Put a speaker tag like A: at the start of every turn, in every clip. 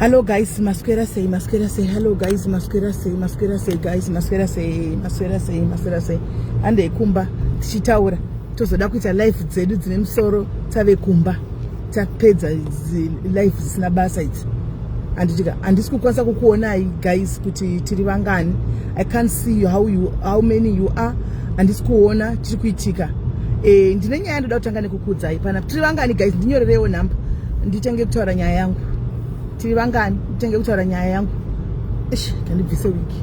A: Hello guys, maswera sei, maswera sei. Hello guys, maswera sei, maswera sei guys, maswera sei, maswera sei, maswera sei. Ande kumba tichitaura. Tozoda kuita live dzedu dzine musoro tave kumba. tapedza life dzisina basa idzi handitika handisi kukwanisa kukuonai guys kuti tiri vangani i can't see you how, you, how many you are handisi kuona chiri kuitika e, ndine nyaya ndoda kutanga nekukuudzai pana tiri vangani guys ndinyorerewo nhamba nditenge kutaura nyaya yangu tiri vangani nditenge kutaura nyaya yangu ish ndandibvise wiki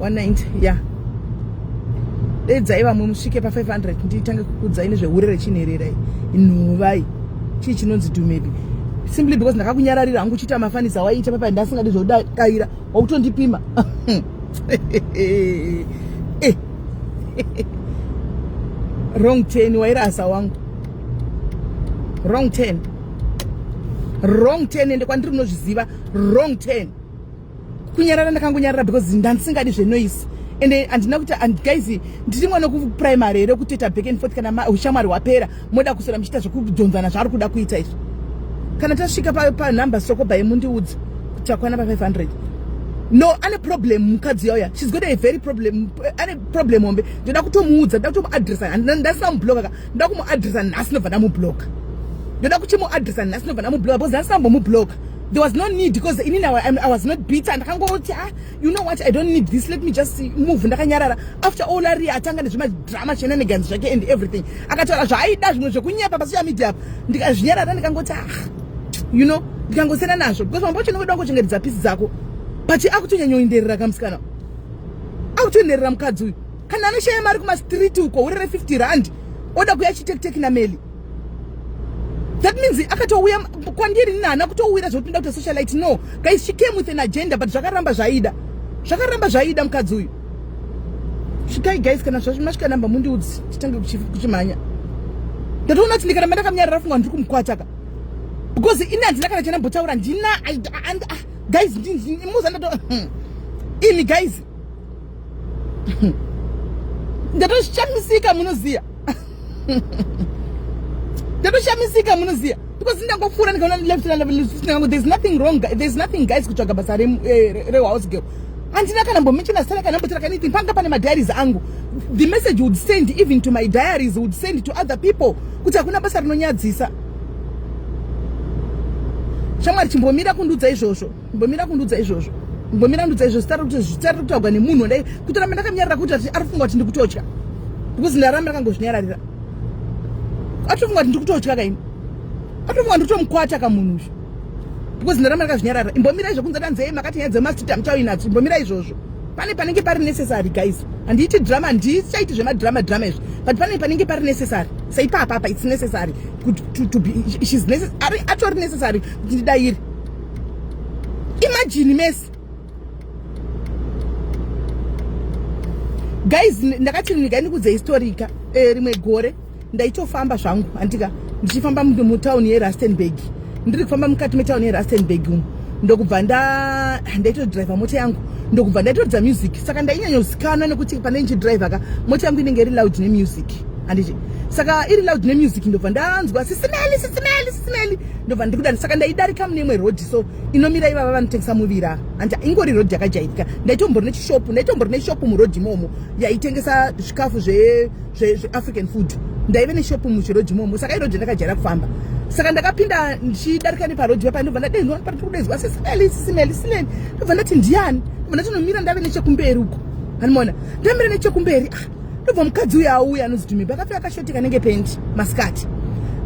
A: 190 ya dedzai vamwe musvike pa 500 nditange kukudzai nezvehure rechinherera inhuvai chii chinonzi dumebi simply because ndakakunyararira hangu uchiita mafanisi awaiita papa ndasingadi zvodaira wakutondipima eh. wrong ten wairasa wangu wrong ten wrong ten ende kwandiri unozviziva wrong ten kunyarara ndakangonyarara because ndandisingadi zvenoise and handina kuti guys ndiri mwana kuprimary here kutoita back and forth kana ushamwari hwapera moda kusora muchiita zvekudhonzana zvaari kuda kuita izvo kana tasvika panumber soko by mundiudza kuchakwana pa500 no ane problem mukadzi yauya shes got a very problem ane problem hombe ndoda kutomuudza ndoda kutomuadressa ndasina mubloka ka ndoda kumuadressa nhasi nobva ndamubloka ndoda kuchimuadressa nhasi nobva ndamubloka because ndasina mbomubloka there was no need because inini I was not bitter ndakangoti ah you know what I don't need this let me just move ndakanyarara after all ari atanga nezvemadrama shenanigans zvake and everything akataura zvaaida zvimwe zvekunyepa pasocial media apa ndikazvinyarara ndikangoti ah you know ndikangosiyana nazvo because mambo chino kuda kuchengetedza pisi dzako but akutonyanyoenderera kamusikana akutoenderera mukadzi uyu kana anoshaya mari kumastreet uko urere 50 rand oda kuya chitekteki nameli that means akatouya kwandiri nina haana kutouwira zvekupinda kuita socialite no guys she came with an agenda but zvakaramba zvaida zvakaramba zvaida mukadzi uyu svikai guys kana zvazvimasvika namba mundiudzi titange kuchimhanya ndatoona kuti ndikaramba ndakaminyarira fungwa ndiri kumukwataka because ini handina kana chanambotaura ndina ah, guys muza ndato hmm. ini guys ndatoshamisika munoziya ndatoshamisika munoziya because ndangopfuura ndikaona left ndikangoti there's nothing wrong there's nothing guys kutsvaga basa eh, rehouse girl handina kana mbomenchena sala kana mbotera kana anything panga pane madiaries angu the message would send even to my diaries would send to other people kuti hakuna basa rinonyadzisa shamwari chimbomira kundiudza izvozvo mbomira kundudza izvozvo mbomira kundudza izvozvo sitari kuti zvitari kutaurwa nemunhu wandai kutoramba ndakanyarira kuti ari kufunga kuti ndikutotya because ndaramba ndakangozvinyararira atofunga kuti ndikutotya kaini atofunga ndikutomukwata kamunhu izvo because ndaramba ndakazvinyarara imbomira izvo kunze tanzei makati nyaya dzemastita muchauyi nadzo imbomira izvozvo pane panenge pari necessary guys handiiti drama handichaiti zvemadrama drama izvi but pane panenge pari necessary saipapapa its necessary kuti atori necessary kuti ndidairi imagine mese guys ndakati ndiga ndikudze historika eh, rimwe gore ndaitofamba zvangu andika ndichifamba mutown yerustenburg ndiri kufamba mukati metown yerustenburg umu ndokubva nda ndaitodriver mota yangu ndokubva ndaitoridza music saka ndainyanyozikanwa nekuti pane ndichidriver ka mota yangu inenge iri loud nemusic anditi saka iri loud nemusic ndobva ndanzwa sisimeli sisimeli sisimeli ndobva ndikuda saka ndaidarika mune imwe road so inomira ivava vanotengesa muvira and ingori road yakajairika ndaitombori nechishopu ndaitombori neshopu muroad imomo yaitengesa zvikafu zveafrican zve, zve food ndaive neshopu muchiroad imomo saka iroad ndakajaira kufamba saka ndakapinda ndichidarika neparoad vapa ndobva ndadenwa pari kudezwa sesimeli sisimeli sileni ndobva ndati ndiani ndobva ndatinomira ndave nechekumberi uko animona ndamira nechekumberi ah, ndobva mukadzi uya auya anoziti mimba akapfeka kashoti kanenge pendi masikati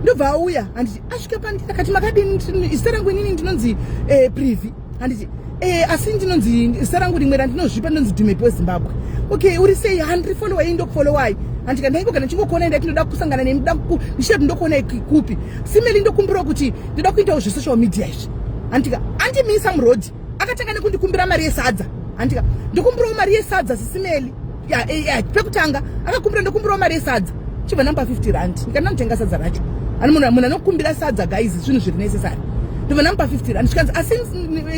A: ndobva auya asvika pandiri akati makadini zita rangu inini ndinonzi eh, privi handiti eh, asi ndinonzi zita rangu rimwe randinozvipa ndinonzi dhumepi wezimbabwe okay uri sei handiri folowa iyi ndokufolowai handika ndaingo kana ndichingokuona ndati ndoda kusangana nemi ndoda ndichida kuti ndokuona kupi simeli ndokumbirawo kuti ndoda kuitawo zvesocial media izvi handika andimisa muroad akatanga nekundikumbira mari yesadza handika ndikumbirawo mari yesadza sisimeli eh, eh, pekutanga akakumbira ndokumbirawo mari yesadza chibva namba 50 rand ndikati ndanotenga sadza racho ani munhu anokumbira sadza guys zvinhu zviri necessary ndibva namba 50 rand zvikanzi asi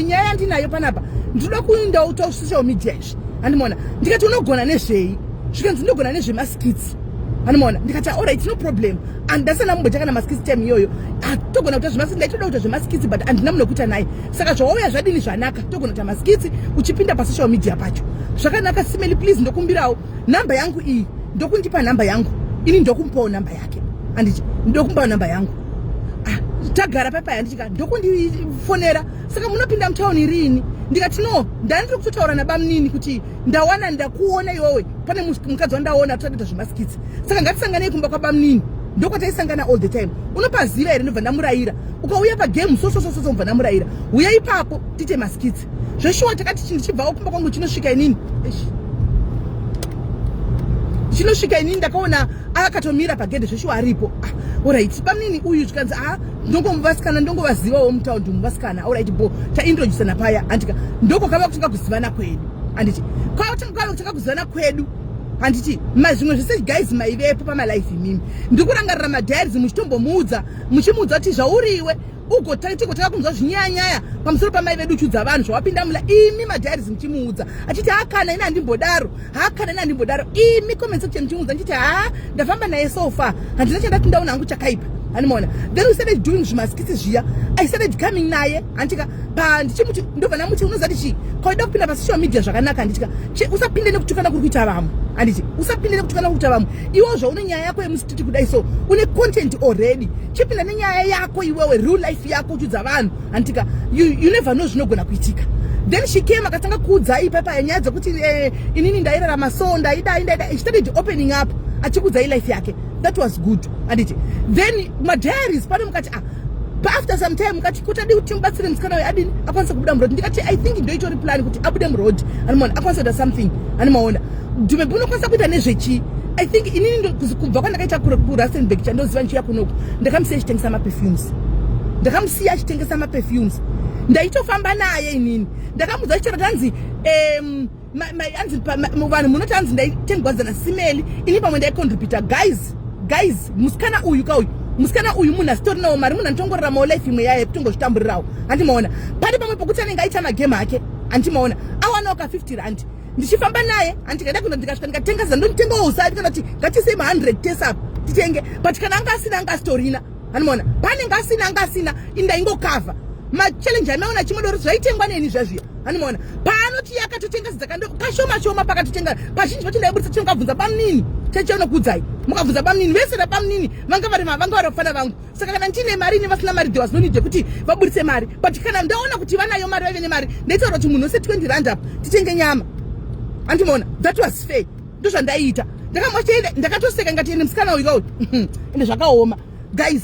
A: nyaya yandinayo panapa ndinoda kuindawo to social media izvi andimona ndikati unogona nezvei zvikanzi ndinogona nezvemaskits animona ndikati orit no problem andasana mumbochakana maskits time iyoyo atogona kuita zvemaskits ndaitoda kuita zvemaskits but andina munhu wekuita naye saka zvawauya zvadini zvanaka togona kuita maskitsi uchipinda pasocial media pacho zvakanaka simeli please ndokumbirawo nhamba yangu iyi ndokundipa nhamba yangu ini ndokumpawo nhamba yake anditi ndokumpawo nhamba yangu ah, tagara paipai anditika ndokundifonera saka munopinda mutauni riini ndikati no ndanditori kutotaura nabamnini kuti ndawana ndakuona iwowe pane mukadzi wandaona totaita zvemaskitsi saka ngatisanganei kumba kwabamnini ndokwataisangana all the time unopaziva here ndobva ndamurayira ukauya pagame so so so so mubva ndamurayira uya ipapo tiite maskits zveshuwa takati chinhu chibvawo kumba kwangu chinosvika inini chinosvika inini ndakaona akatomira pagedhe zveshuwa aripo ah, orit pamnini uyu zvikanzi a ah, ndongomuvasikana ndongovazivawo mutaundi muvasikana orit bo taindrojisana paya andika ndokokava kutanga kuzivana kwedu anditi kwakutanga kutanga kuzivana kwedu handiti zvimwe zvese guys maivepo pamalife imimi ndikurangarira madiaries muchitombomuudza muchimuudza kuti zvauri iwe ugotanga kunzwa zvinyayanyaya pamusoro pamai vedu chudza vanhu zvawapinda mula imi madhairis muchimuudza achiti hakana ini handimbodaro hakana ini handimbodaro imi comment section muchimuudza ndichiti haa ndafamba naye so far handina chandati ndaona hangu chakaipa handimaona then we started doing zvimaskitsi zviya i started coming naye handitika pa ndichimuti ndobva namuti unoziva tichii kwaida kupinda pasocial media zvakanaka handitika usapinde nekutukana kuri kuita vamwe handiti usapinde nekutukana kuri kuita vamwe iwo zvaune nyaya yako yemusi kuti kudai so une content already chipinda nenyaya yako iwewe real life yako uchudza vanhu handitika you, you never know zvinogona kuitika then she came akatanga kuudzai ipapa yenyaya dzekuti eh, inini ndairarama so ndaidai ndaidai she started opening up achikuudzai life yake that was good anditi then madiaries pane mukati paafter some time mukati kuti adii kuti mubatsire musikana uyo adini akwanise kubuda muroad ndikati i think ndoitori plan kuti abude muroad animaona akwanise kuita something animaona dume bunokwanisa kuita nezvechii i think inini kubva kwandakaita kurasenbek chandoziva ndichiuya kunoku ndakamusiya achitengesa maperfumes ndakamusiya achitengesa maperfumes ndaitofamba naye inini ndakamuudza chitoro tanzi um, anzi vanhu munoti hanzi ndaitengwadzana simeli ini pamwe ndaicontributa guys guys musikana uyu ka uyu musikana uyu munhu asitorinawo mari munhu anotongoraramawo life imwe yaye kutongozvitamburirawo handimaona pari pamwe pokuti anenge aita magame ake handimaona awanawo ka 50 rand ndichifamba naye handikaida kuno ndikasvika ndikatenga zandonitengawo usati kana kuti ngatisei ma 100 tesapo titenge but kana anga asina anga asitorina Animoona panenge asina anga asina indaingokavha machallenji amaona chimodoro zvaitengwa neni zvazviya animoona paanoti yakatotenga zidzakando kashoma shoma pakatotenga kazhinji vacho ndaibudisa chino kavhunza bamnini chachanokudzai mukabvunza bamnini vese rapamnini vanga vari vanga vari vafana vangu saka kana ndiine mari ine vasina mari thewas nonide kuti vaburitse mari but kana ndaona kuti vanayo mari vaive nemari ndaitaura kuti munhu wese 20 rand up titenge nyama andimoona that was fair ndozvandaiita ndakamwachende ndakatoseka ngati ende musikana uyu kauti uhm, ende zvakaoma guys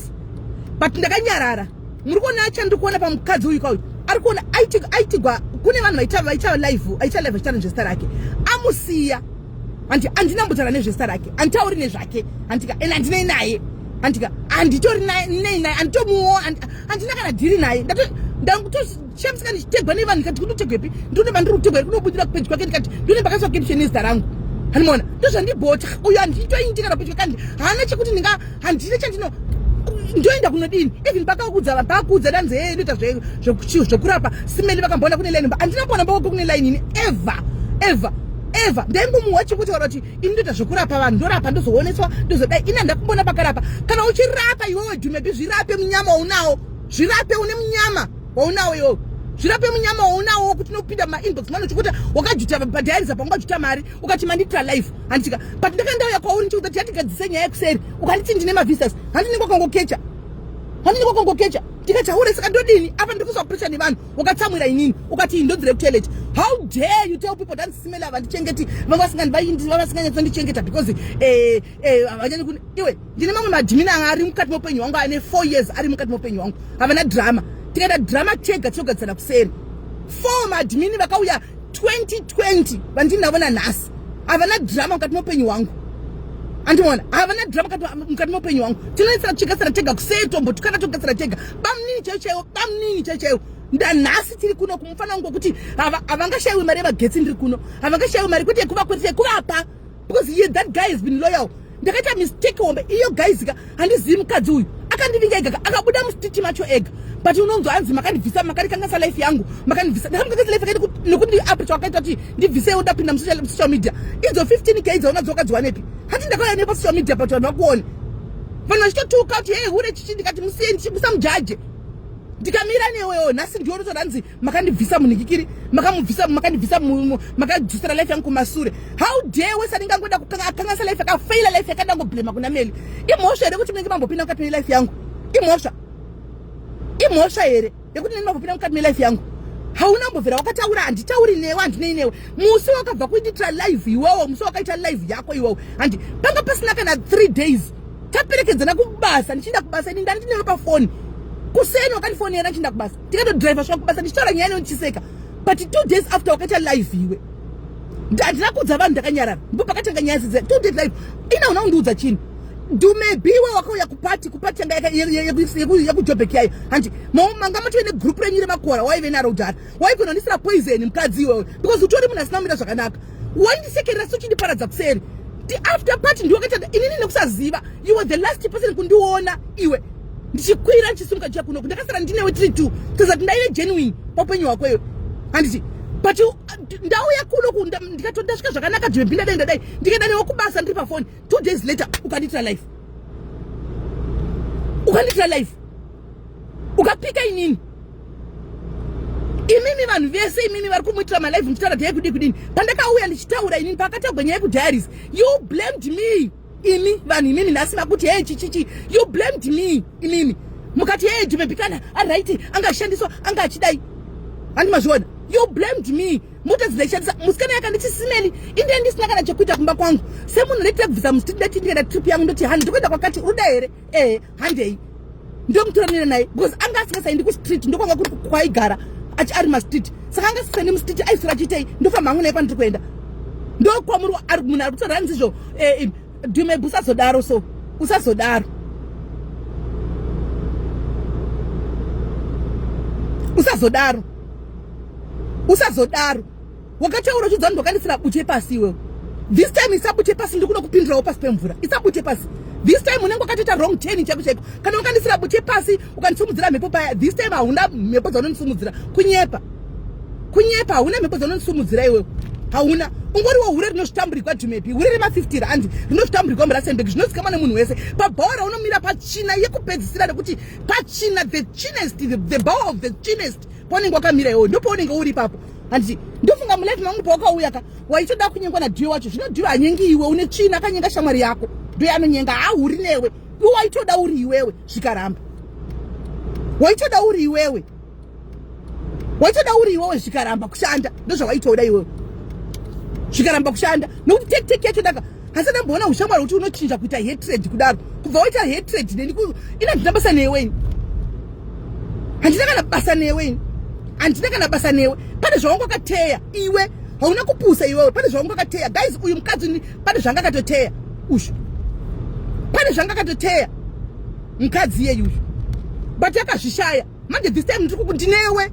A: but ndakanyarara muri kuona acha ndiri kuona pamukadzi uyu kauti ari kuona aitigwa kune vanhu vaita vaita live aita live achitaura nezvesta rake amusiya hanti andina mbutara nezvesta rake anditauri nezvake handika ende andinei naye handika anditori nei naye anditomuwo andina kana dhiri naye ndakuto Shame saka ndichitegwa nevanhu ndikati kunotegwepi ndine mandiri kutegwa iri kunobudira kupedzi kwake ndikati ndine mbakaiswa caption nezita rangu hanimona ndozvandibhoti uyo handitointi kana pedyo kandi haana chekuti ndinga handine chandino ndoenda kunodini even pakakuudza vanhu pakakuudza danzi hee inoita zvekurapa simeni vakamboona kune line handina kuona mboko kune line ini ever ever ever ndaingomuwa chekutaura kuti ini ndoita zvekurapa vanhu ndorapa ndozooneswa ndozodai ini handakumbona pakarapa kana uchirapa iwewe dhumepi zvirape munyama unawo zvirape une munyama waunawo iwowo zvirape munyama waunawo wokuti unopinda mumainbox mano chikuti wakajuta bhadhairiza panga wajuta mari ukati mandiitira life handitika but ndakandauya kwauri ndichikuti yatigadzise nyaya yekuseri ukanditi ndine mavisas handinenge wakangokecha handinenge wakangokecha ndikataure saka ndodini apa ndiri kuiswa pressure nevanhu wakatsamwira inini ukati iyi ndodzire kutoilet how dare you tell people dansisimela vandichengeti vavasinganyatsandichengeta because eh, Eh, havanyanye kune iwe ndine mamwe madhimini anga ari mukati meupenyu hwangu ane four years ari mukati meupenyu hwangu havana drama tikaita drama tega tinogadzana kuseri four madhimini vakauya 2020 vandinavona nhasi havana drama mukati meupenyu hwangu andimona havana drama mukati meupenyu hwangu tinoisira tichigatsira tega kuseri tombotukana togatsira tega bamunini chaiyo chaiwo bamunini chaiyo chaiwo ndanhasi tiri kuno kumufana wangu wekuti havangashaiwi mari yemagetsi ndiri kuno havangashaiwi mari kwete yekuvakweresa yekuvapa because he, that guy has been loyal ndakaita mistake hombe iyo guys ka handizivi mukadzi uyu akandivinga ega akabuda mustiti macho ega but unonzwa anzi makandibvisa makandikangasa life yangu makandibvisa ndakamukangasa life yake nekundiapricha wakaita kuti ndibvise ndapinda musocial media idzo 15 k idzaona dzokadziwanepi hati ndakauya nepa social media but vanhu vakuone vanhu vachitotuka kuti hei hure chichi ndikati musiyeni musamujaje ndikamira newewo nhasi ndiwo rotoranzi makandibvisa munhikikiri makamubvisa makandibvisa makadzosera life yangu kumasure how dare wese anenge angoda kukanganisa life yakafaila life yakada ngoblema kuna meli imhosva here kuti munenge mambopinda mukati melife yangu imhosva imhosva here yekuti neni mambopinda mukati melife yangu hauna mbovhera wakataura handitauri newe handinei newe musi wakabva kuitira live iwowo musi wakaita live yako iwowo handi panga pasina kana three days taperekedzana kubasa ndichienda kubasa ini ndandineve pafoni kuseni wakandifonera ndichienda kubasa ndikatodriver sva kubasa ndichitaura nyaya inochiseka but two days after wakaita live iwe handina kuudza vanhu ndakanyarara ndipo pakatanga nyaya zidzi two days live ina una undiudza chini dumebiwe wakauya kupati kupati yanga yekujobheki yayo hanti manga mutive negroup renyu remakora waive naro udhara waikonondisira poison mukadzi iwewe because utori munhu asina kumira zvakanaka wandisekerera sochindiparaza kuseri ti after party ndiwakaita inini nekusaziva you were the last person kundiona iwe ndichikwira chisimuka chiya kunoku ndakasara ndinewe tiri two tazati ndaive genuine paupenyu hwako iyo handiti but ndauya kunoku ndikatondasvika zvakanaka jwebi ndadai ndadai ndikaenda newe kubasa ndiri pafoni two days later ukandiitira life ukandiitira life ukapika inini imimi vanhu vese imimi vari kumuitira malive muchitaura dhaya kudii kudini pandakauya ndichitaura inini paakatagwa nyaya yekudiaries you blamed me imi vanhu imimi nhasi makuti hee chichichi you blamed me imimi mukati hee jumebikana aright anga achishandiswa anga achidai handi mazviona you blamed me mota dzinaishandisa musikana yakanditi simeli inde ndisina kana chekuita kumba kwangu semunhu reitira kubvisa musiti ndati ndikaenda trip yangu ndoti hani ndikuenda kwakati uruda here ehe handei ndomutoranira naye because anga asingasaendi kustreet ndokwanga kuri kwaigara achi ari mastreet saka anga asisaendi mustreet aisora chiitei ndofamba hangu naye kwandiri kuenda ndokwamuri munhu ari kutora hanzizvo eh, eh, dumebu usazodaro so usazodaro usazodaro usazodaro Wakataura uchidza ndokanisira bute pasi iwewe. This time isabute pasi ndikuda kupindirawo pasi pemvura. Isabute pasi. This time unenge wakatoita wrong turn chako chako. Kana wakandisira bute pasi ukandisumudzira mhepo paya. This time hauna mhepo dzaunondisumudzira. Kunyepa. Kunyepa hauna mhepo dzaunondisumudzira iwewe. Hauna. ungoriwo hure rinozvitamburigwa jumepi hure rema50 randi rinozvitamburigwa murasenbek zvinozikamwa nemunhu wese pabhaora unomira pachina yekupedzisira rekuti pachina the chinest the, the bower of the chinest Paunenge wakamira iwoyo ndipo unenge uri ipapo. Hanzi ndofunga mulife mangu pawakauya ka waitoda kunyengwa na Dio wacho. Zvino Dio anyengi iwe une tsvina akanyenga shamwari yako. Dio anonyenga ahuri newe. Iwe waitoda uri iwewe zvikaramba. Waitoda uri iwewe. Waitoda uri iwewe zvikaramba kushanda. Ndozvawaitoda iwewe. Zvikaramba kushanda. Nokuti take take yacho daka asi ndamboona ushamwari kuti unochinja kuita hatred kudaro kubva waita hatred neni ina ndina basa newe ini handina kana basa newe ini handina kana basa newe pane zvawanga wakateya iwe hauna kupusa iwewe pane zvawanga wakateya guys uyu mukadzi ni pane zvanga akatoteya ushu pane zvanga akatoteya mukadzi iyeyu ushu but akazvishaya manje this time ndiri kukuti newe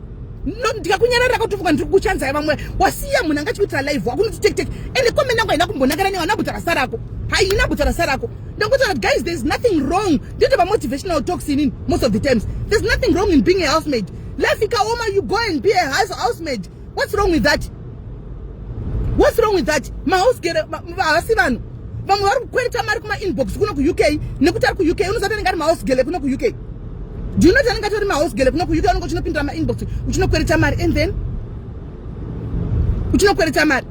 A: ndikakunyarara katofuka ndiri kuchanzaya vamwe wasiya munhu anga chikuitira live wako unoti tek tek ende komeni yangu haina kumbonakana newe ana butsa rasa rako haina butsa rasa rako ndakutoona guys there's nothing wrong ndito pamotivational talks inini most of the times there's nothing wrong in being a housemaid life ikaoma you go and be a housemaid what's wrong with that what's wrong with that mahouse gere havasi vanhu vamwe vari kukwereta mari kumainbox kuno kuuk nekuti ari kuuk unozati anenge ari mahouse gele kuno kuuk do you not anenge atori mahouse gele kuno kuuk anenge uchinopindira mainbox uchinokwereta mari and then uchinokwereta mari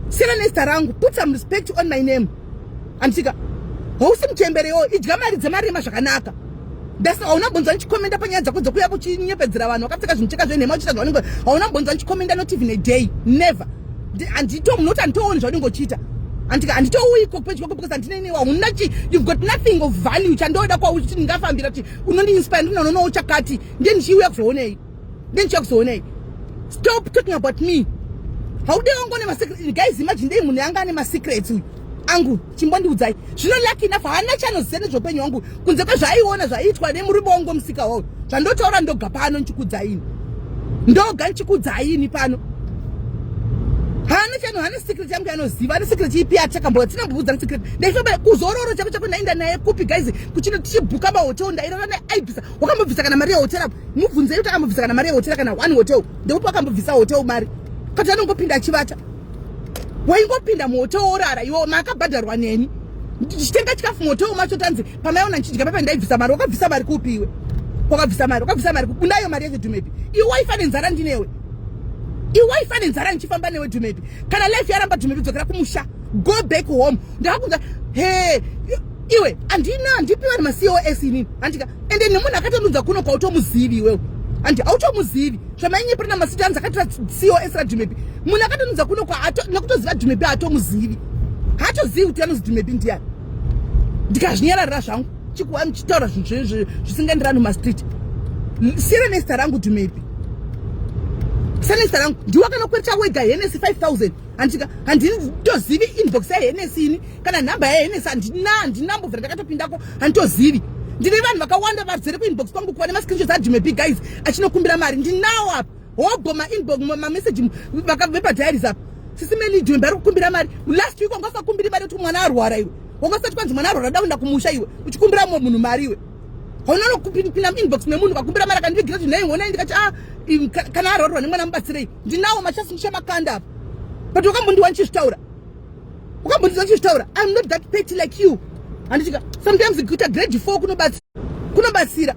A: siyana nezita rangu put some respect on my name andisika hausi muchembere yoo idya mari dzemarima zvakanaka ndasa hauna bonzwa ndichikomenda panyaya dzako dzokuya kuchinyepedzera vanhu wakapfeka zvimucheka zvenhema uchiita zvaunenge hauna bonzwa ndichikomenda not even a day never andito munoti anditooni zvaunenge uchiita andika anditouyiko pedyo ko because andine inewa hauna chi you've got nothing of value chandoda kwauti ndingafambira kuti unondiinspire ndinononowo chakati ndiye ndichiuya kuzoonei then chakuzoonei stop talking about me haude wangu ne masecret guys imagine dei munhu yanga ane masecrets uyu angu chimbondiudzai zvino lucky enough haana chanoziva nezveupenyu wangu kunze kwezvaaiona zvaiitwa nemurume wangu musika wawo zvandotaura ndoga pano ndichikudzaini ndoga ndichikudzaini pano haana chano haana secret yangu yanoziva ane secret ipi achakamboa tina mbubudza ne secret ndaifamba kuzororo chako chako ndaenda naye kupi guys kuchino tichibhuka mahotel ndairara neaibisa wakambobvisa kana mari yehotel apo mubvunzei kuti akambobvisa kana mari yehotel kana one hotel ndekuti wakambobvisa hotel mari kati anongopinda achivata waingopinda muhotel worara iwo maakabhadharwa neni ndichitenga chikafu muhotel macho tanzi pamaiona ndichidya papa ndaibvisa mari wakabvisa mari kupi iwe wakabvisa mari wakabvisa mari kupi ndayo mari yacho dumepi iwe waifa nenzara ndinewe iwe waifa nenzara ndichifamba newe dumepi kana life yaramba dumepi dzokera kumusha go back home ndakakunza he iwe andina handipi vanhu macos inini handika ende nemunhu akatanudza kuno kwautomuzivi iwewo handi automuzivi zvamainyepera namasita anzi akatora cos radhumepi munhu akatanudza kuno nekutoziva dhumepi haatomuzivi haatozivi kuti anozi dhumepi ndiyani ndikazvinyararira zvangu chikuwani chitaura zvinhu zvisingaenderani mumastreet siyana nezita rangu dhumepi sanesa rangu ndiwe kana kwereta wega henesi 5000 handika handini ndozivi inbox yahenesi ini kana nhamba yaenesa handina handina mbobvira ndakatopindako handitozivi ndine vanhu vakawanda vazere kuinbox kwangu kuva nemascreenshots admb guys achinokumbira mari ndinawo apa hobho mainbox mameseji vepadiaries apa sisi melidmbe ari kukumbira mari last week wanga usakumbiri mari kuti mwana arwara iwe wanga usati kwanzi mwana arwara daunda kumusha iwe uchikumbira mumwe munhu mari iwe haunanokupinda muinbox memunhu vakumbira mari akandivigira kuti nhai honai ndikati a ah, kana arwarwa nemwana mubatsirei ndinawo machasi ndichamakanda apa but wakambondiwa ndichizvitaura ukambondiza chizvitaura im not that petty like you handichika sometimes kuita grade four kunobatsira kunobatsira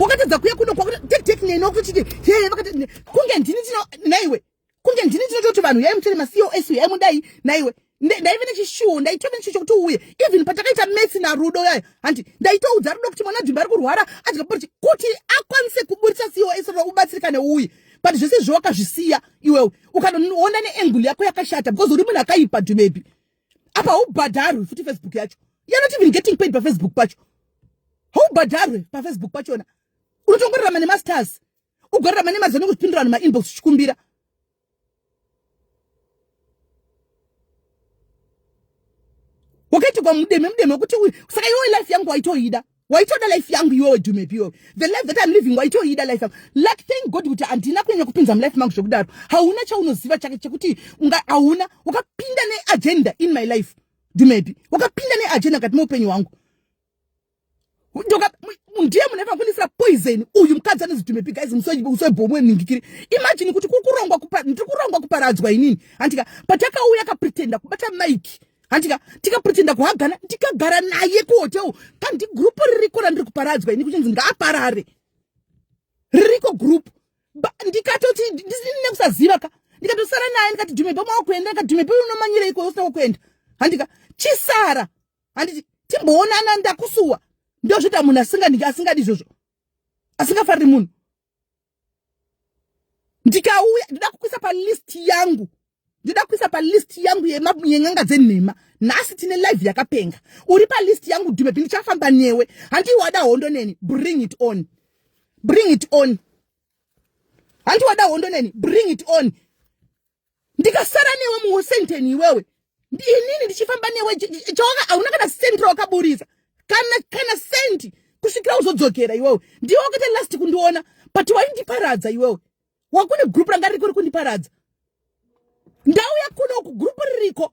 A: wakatadza kuya kuno kwakutektekneno kuchiti hee vakati kunge ndini tino naiwe kunge ndini tinototi vanhu yaimutere macosu yaimudai naiwe ndaive nechishuwo ndaitove nechishuwo chokuti uuye even patakaita matsi narudo yayo hanti ndaitoudza rudo kuti mwana dhimba ari kurwara adya porchi kuti akwanise kuburitsa cos rudo ubatsirika neuye but zvese izvo wakazvisiya iwewe ukanoona neangle yako yakashata because uri munhu akaipa dhumebi apa haubhadharwi futi facebook yacho you're not even getting paid pafacebook pacho haubhadharwi pafacebook pachona unotongorarama nemasters ugorara mane mazano kuzvipindura vanhu mainbox uchikumbira wakaitigwa mudeme mudeme wekuti uyu saka iwe life yangu waitoida waitoda life yangu iwewe dumepi iwewe the life that im living waitoida life yangu like thank god kuti handina kunyanya kupinza mulife mangu zvekudaro hauna chaunoziva chake chekuti unga hauna wakapinda neagenda in my life dumepi wakapinda neagenda mukati meupenyu hwangu ndiye mune vakunisira poison uyu mukadzi anozitumepi guys musoibhomwe ningikiri imagine kuti kukurongwa ndiri kurongwa kuparadzwa inini handika patakauya akapretenda kubata mike handika tikapretenda kuhagana ndikagara naye kuhotel kandi gurupu ririko randiri kuparadzwa ini kuchinzi ngaaparare ririko gurupu ndikatoti ndisine kusaziva ka ndikatosara naye ndikati dhumepe maokuenda ndikati dhumepe unomanyira iko usina kuenda handika chisara handiti timboonana ndakusuwa ndozvita munhu asingadi asingadi izvozvo asingafariri munhu ndikauya ndida kukuisa palist yangu ndida kuisa palist yangu yen'anga dzenhema nhasi tine live yakapenga uri palist yangu dumepi ndichafamba newe handii wada hondo neni bring it on bring it on handii wada hondo neni bring it on ndikasara newe muwasington iwewe ndinini ndichifamba newe chaona hauna kana senti raukaburitsa kana kana senti kusvikira uzodzokera iwewe ndiwe wakaita last kundiona but waindiparadza iwewe wakune group ranga ririko rikundiparadza ndau yakuno uku group ririko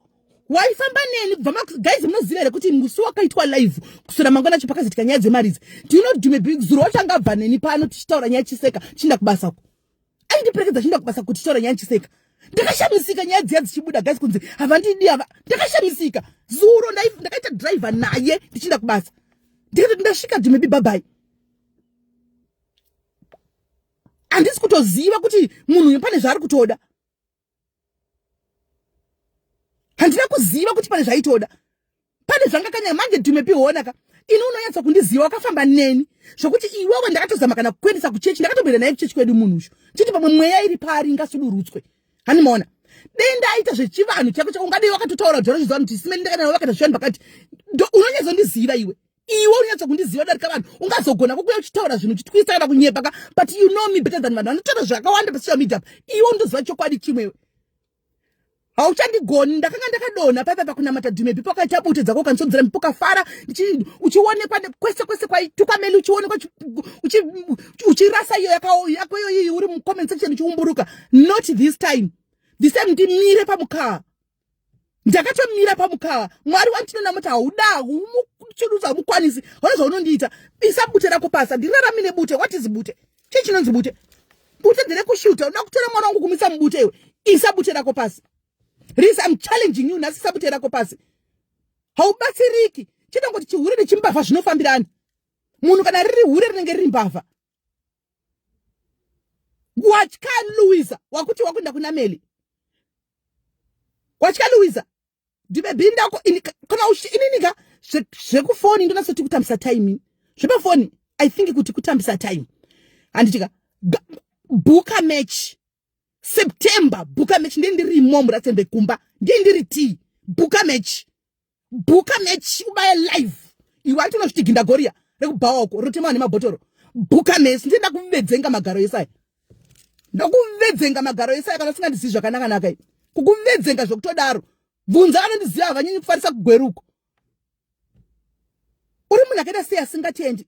A: waifamba neni kubva guys munoziva here kuti musi wakaitwa live kusora mangwana cho pakazoitika nyaya dzemaridzi do you know dume big zuro wachangabva neni pano tichitaura nyaya chiseka chinda kubasa uko aindiperekedza chinda kubasa kuti taura nyaya chiseka ndakashamisika nyaya dziya dzichibuda gasi kunzi havandidi ava ndakashamisika zuro ndakaita driver naye ndichinda kubasa ndikati ndasvika dhimebi bhabai handisi kutoziva kuti munhu uyu pane zvaari kutoda handina kuziva kuti pane zvaitoda pane zvangakanya manje dume pihona ka ini unonyatsa kundiziva wakafamba neni zvokuti iwewe ndakatozama kana kukuendesa kuchechi ndakatomboenda naye kuchechi kwedu munhu usho chiti pamwe mweya iri paari ingasudurutswe hani maona dei ndaaita zvechivanhu chako chako ungadei wakatotaura kuti zvarochiziva kuti simeni ndakanawe vakata zvivanhu pakati unonyatsa ndiziva iwe iwe unyatso kundiziva darika vanhu ungazogona kukuya uchitaura zvinhu uchitwisa kana kunyepa ka but you know me better than vanhu vanotaura zvakawanda pasocial media iwe undoziva chokwadi chimwewe hauchandigoni ndakanga ndakadonha paipa pakunamata dhume bipo akaita bute dzako ukanisodzera mipo kafara uchionekwa kwese kwese kwaitukwa meli uchionekwa uchirasa iyo yako iyoyiyi uri mucomment section uchiumburuka not this time the same ndimire pamukaa ndakatomira pamukawa mwari wandinoona muti hauda humuchurudzo hamukwanisi hona zvaunondiita isa bute rako pasi handirarami nebute what is bute chii chinonzi bute bute nderekushuta unoda kutora mwana wangu kumisa mubute iwe isa bute rako pasi ris im challenging you nhasi isa bute rako pasi haubatsiriki chete kuti chihure nechimbavha zvinofambirani munhu kana riri hure rinenge riri mbavha watya luisa wakuti wakuenda kuna meli watya luisa ndibebindako kana ininika zvekufoni ndonasoti kutambisa time zvepafoni i think kuti kutambisa time handitika bhuka match september bhuka match ndiye ndirimo muratsembe kumba ndiye ndiri tii bhuka match bhuka mechi ubaya live iwe ati unozviti gindagoriya rekubhawa uko rotemawa nemabhotoro bhuka mesi ndinoda kuvedzenga magaro ese aya ndokuvedzenga magaro ese aya kana usingandizivi zvakanakanaka i kukuvedzenga zvokutodaro bvunza vanondiziva havanyenyi kufarisa kugweruko uri munhu akaita sei asingatendi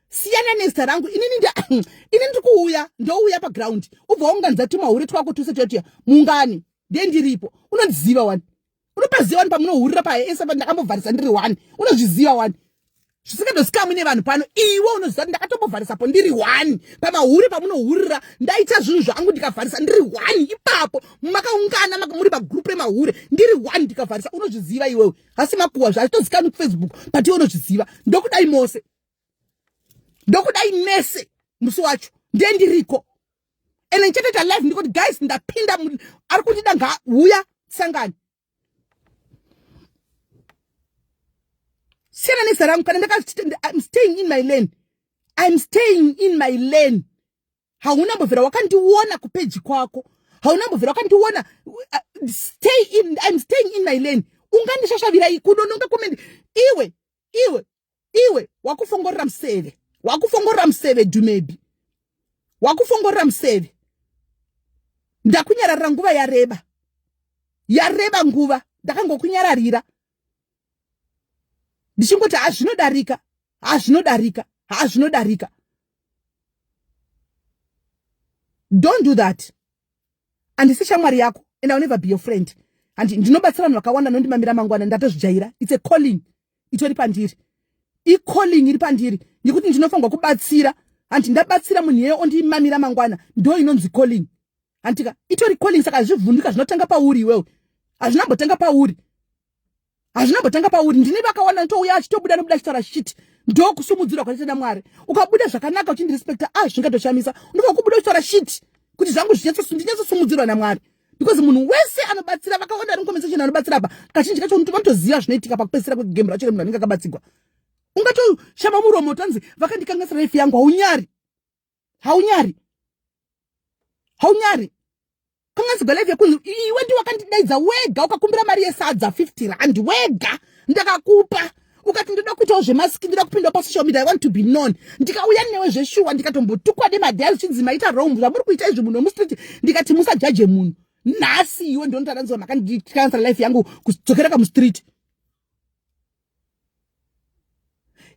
A: siyana nezita rangu inini nda ini ndiri kuuya ndouya paground ubva waunganza tumahure twako tuse totiya mungani ndiye ndiripo unondiziva wani unopaziva wani pamunohurira paye ese pa ndakambovharisa ndiri wani unozviziva wani zvisingadosikamwi nevanhu pano iwe unoziva kuti ndakatombovharisapo ndiri wani pamahure pamunohurira ndaita zvinhu zvangu ndikavharisa ndiri wani ipapo makaungana makamuri pagrupu remahure ndiri wani ndikavharisa unozviziva iwewe hasi makuwa zvaazvitozikamwi kufacebook but iwe unozviziva ndokudai mose ndokudai mese musi wacho ndiye ndiriko and ndichatoita live ndikuti guys ndapinda ari kundida ngauya sangani siyana neza rangu kana ndakaiam staying in my lane iam staying in my lane hauna mbovhera wakandiona kupeji kwako hauna mbovhera wakandiona uh, stay in iam staying in my lane ungandishashavira kunononga kumendi iwe iwe iwe wakufongorera museve wakufongorera museve dumebi wakufongorera museve ndakunyararira nguva yareba yareba nguva ndakangokunyararira ndichingoti hazvinodarika hazvinodarika hazvinodarika don't do that handisi shamwari yako and ill never be your friend handi ndinobatsira vanhu vakawanda nondimamira mangwana ndatozvijaira its a calling itori pandiri icalling iri pandiri yekuti ndinofanirwa kubatsira hanti ndabatsira munhu yeye ondimamira mangwana ndo inonzi calling hantika itori calling saka hazvivhundika zvinotanga pauri iwewe hazvina mbotanga pauri hazvina mbotanga pauri ndini vakaona nditouya achitobuda nobuda achitaura shiti ndokusumudzirwa kwatete namwari ukabuda zvakanaka uchindirespecta a ah, zvingatoshamisa unofa kubuda uchitaura shiti kuti zvangu zvinyatsosumudzirwa namwari because munhu wese anobatsira vakawanda vari compensation anobatsira apa kazhinji kacho unotova toziva zvinoitika pakupedzisira kwegame racho remunhu anenge akabatsigwa ungatoshama muromo tanzi vakandikangasira life yangu haunyari haunyari haunyari kanganzigwa life yakunzi iwe ndi wakandidaidza wega ukakumbira mari yesadza 50 rand wega ndakakupa ukati ndoda kuitawo zvemasiki ndoda kupindawo pasocial media i want to be known ndikauya newe zveshuwa ndikatombotukwa nemadhaya zvichinzi maita rong zvamuri kuita izvi munhu wemustreet ndikati musajaje munhu nhasi iwe ndinotaranziwa makanditransfer life yangu kudzokera kamustreet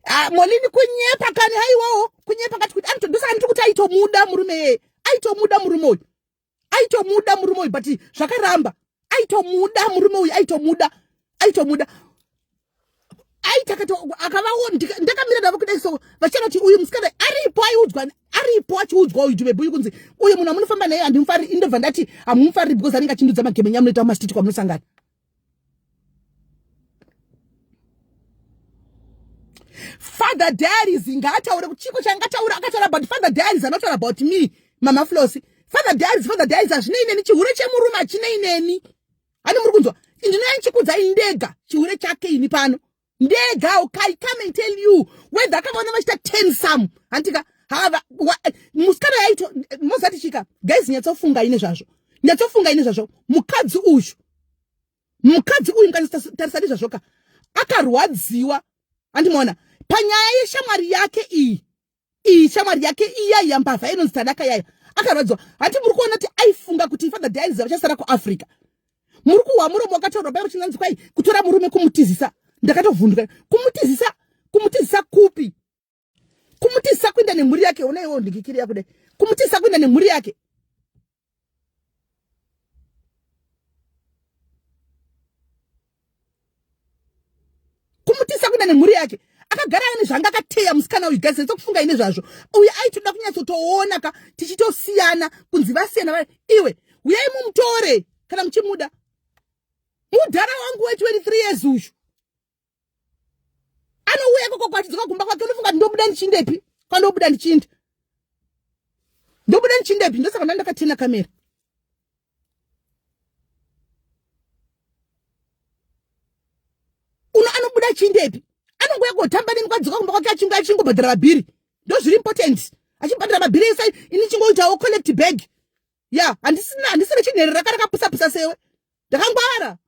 A: ah, molini kunyepa kani haiwawo kunyepa kati kuti anitodusa kanitikuti aitomuda murume yeye aitomuda murume uyu aitomuda murume uyu but zvakaramba aitomuda murume uyu aitomuda aitomuda akavaona ndakamira navo kudai so vachitaura kuti uyu musikana aripo aiudzwa aripo achiudzwa uyu jube buyu kunzi uyu munhu amunofamba naye handimufari indobva ndati hamumufari because anenge achindudza magemenya amunoita mastiti kwamunosangana father diaries ngaataure kuti chiko changataura akataura about father diaries anotaura about me mama flosi father diaries father diaries hazvinei neni chihure chemurume hachinei neni hani muri kunzwa ndinoya ndichikudzai ndega chihure chake ini pano ndega okay come and tell you whether akavaona vachita ten some hantika hava musikana yaito mozati chika guys nyatsofunga ine zvazvo nyatsofunga ine zvazvo mukadzi uyu mukadzi uyu mukanyatsotarisani zvazvo ka akarwadziwa andimona panyaya yeshamwari yake iyi iyi shamwari yake iyayi yambavha inonzi tanaka yayo akarwadziwa hati muri kuona kuti aifunga kuti father dializa vachasara kuafrica muri kuhwa muromo wakataurwa pai uchinanzi kwai kutora murume kumutizisa ndakatovhunduka kumutizisa kumutizisa kupi kumutizisa kuinda nemhuri yake ona iwo ndikikiri yakudai kumutizisa kuinda nemhuri yake kumutisa kuda nemhuri yake akagara ane zvanga akateya musikana uyu gazi retokufunga ine zvazvo uye aitoda kunyatsotoona ka tichitosiyana kunzi vasiyana va iwe uyai mumutore kana muchimuda mudhara wangu we 23 years uyu anouya ikoko kwatidzoka kumba kwake unofunga kuti ndobuda ndichindepi kwandobuda ndichiinda ndobuda ndichindepi ndosaka nda ndakatena kamera uno anobuda achindepi anongoya kotamba neni kwadzoka kumba kwake achingo achingobhadhara mabhiri ndozviri important achibhadhara mabhiri ese ini chingoitawo collect bag ya handisina handisina chinherera kara kapusapusa sewe ndakangwara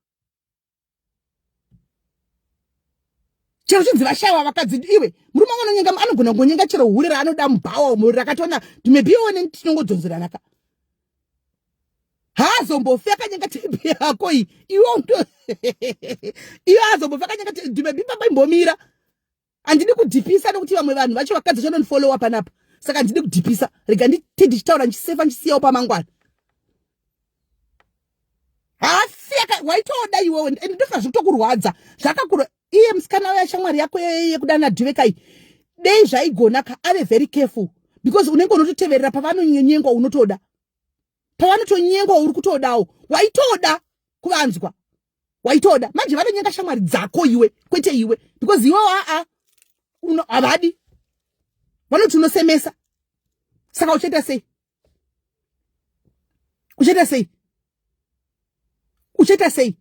A: chero chinzi vashaiwa vakadzi iwe murume wangu anonyenga anogona kungonyenga chero hure raanoda mubhawa umo rakatoona tumebioneni tinongodzonzerana ka haazombofi akanyenga tebi yako iyi iwo iyo haazombofi akanyenga tebi maybe pamba imbomira handidi kudhipisa nokuti vamwe vanhu vacho vakadzi vacho vanondifollowa panapa saka handidi kudhipisa rega nditi ndichitaura ndichisefa ndichisiyawo pamangwana hasi waitoda iwewe and ndofa zvitokurwadza zvakakura iye musikana uya shamwari yako yekudana dhivekai dei zvaigonaka ave very careful because unenge unototeverera pavanonyengwa unotoda pavanotonyengwa uri kutodawo waitoda kuvanzwa waitoda manje vanonyenga shamwari dzako iwe kwete iwe because iwe aa havadi vanoti unosemesa saka uchaita sei uchaita sei uchaita sei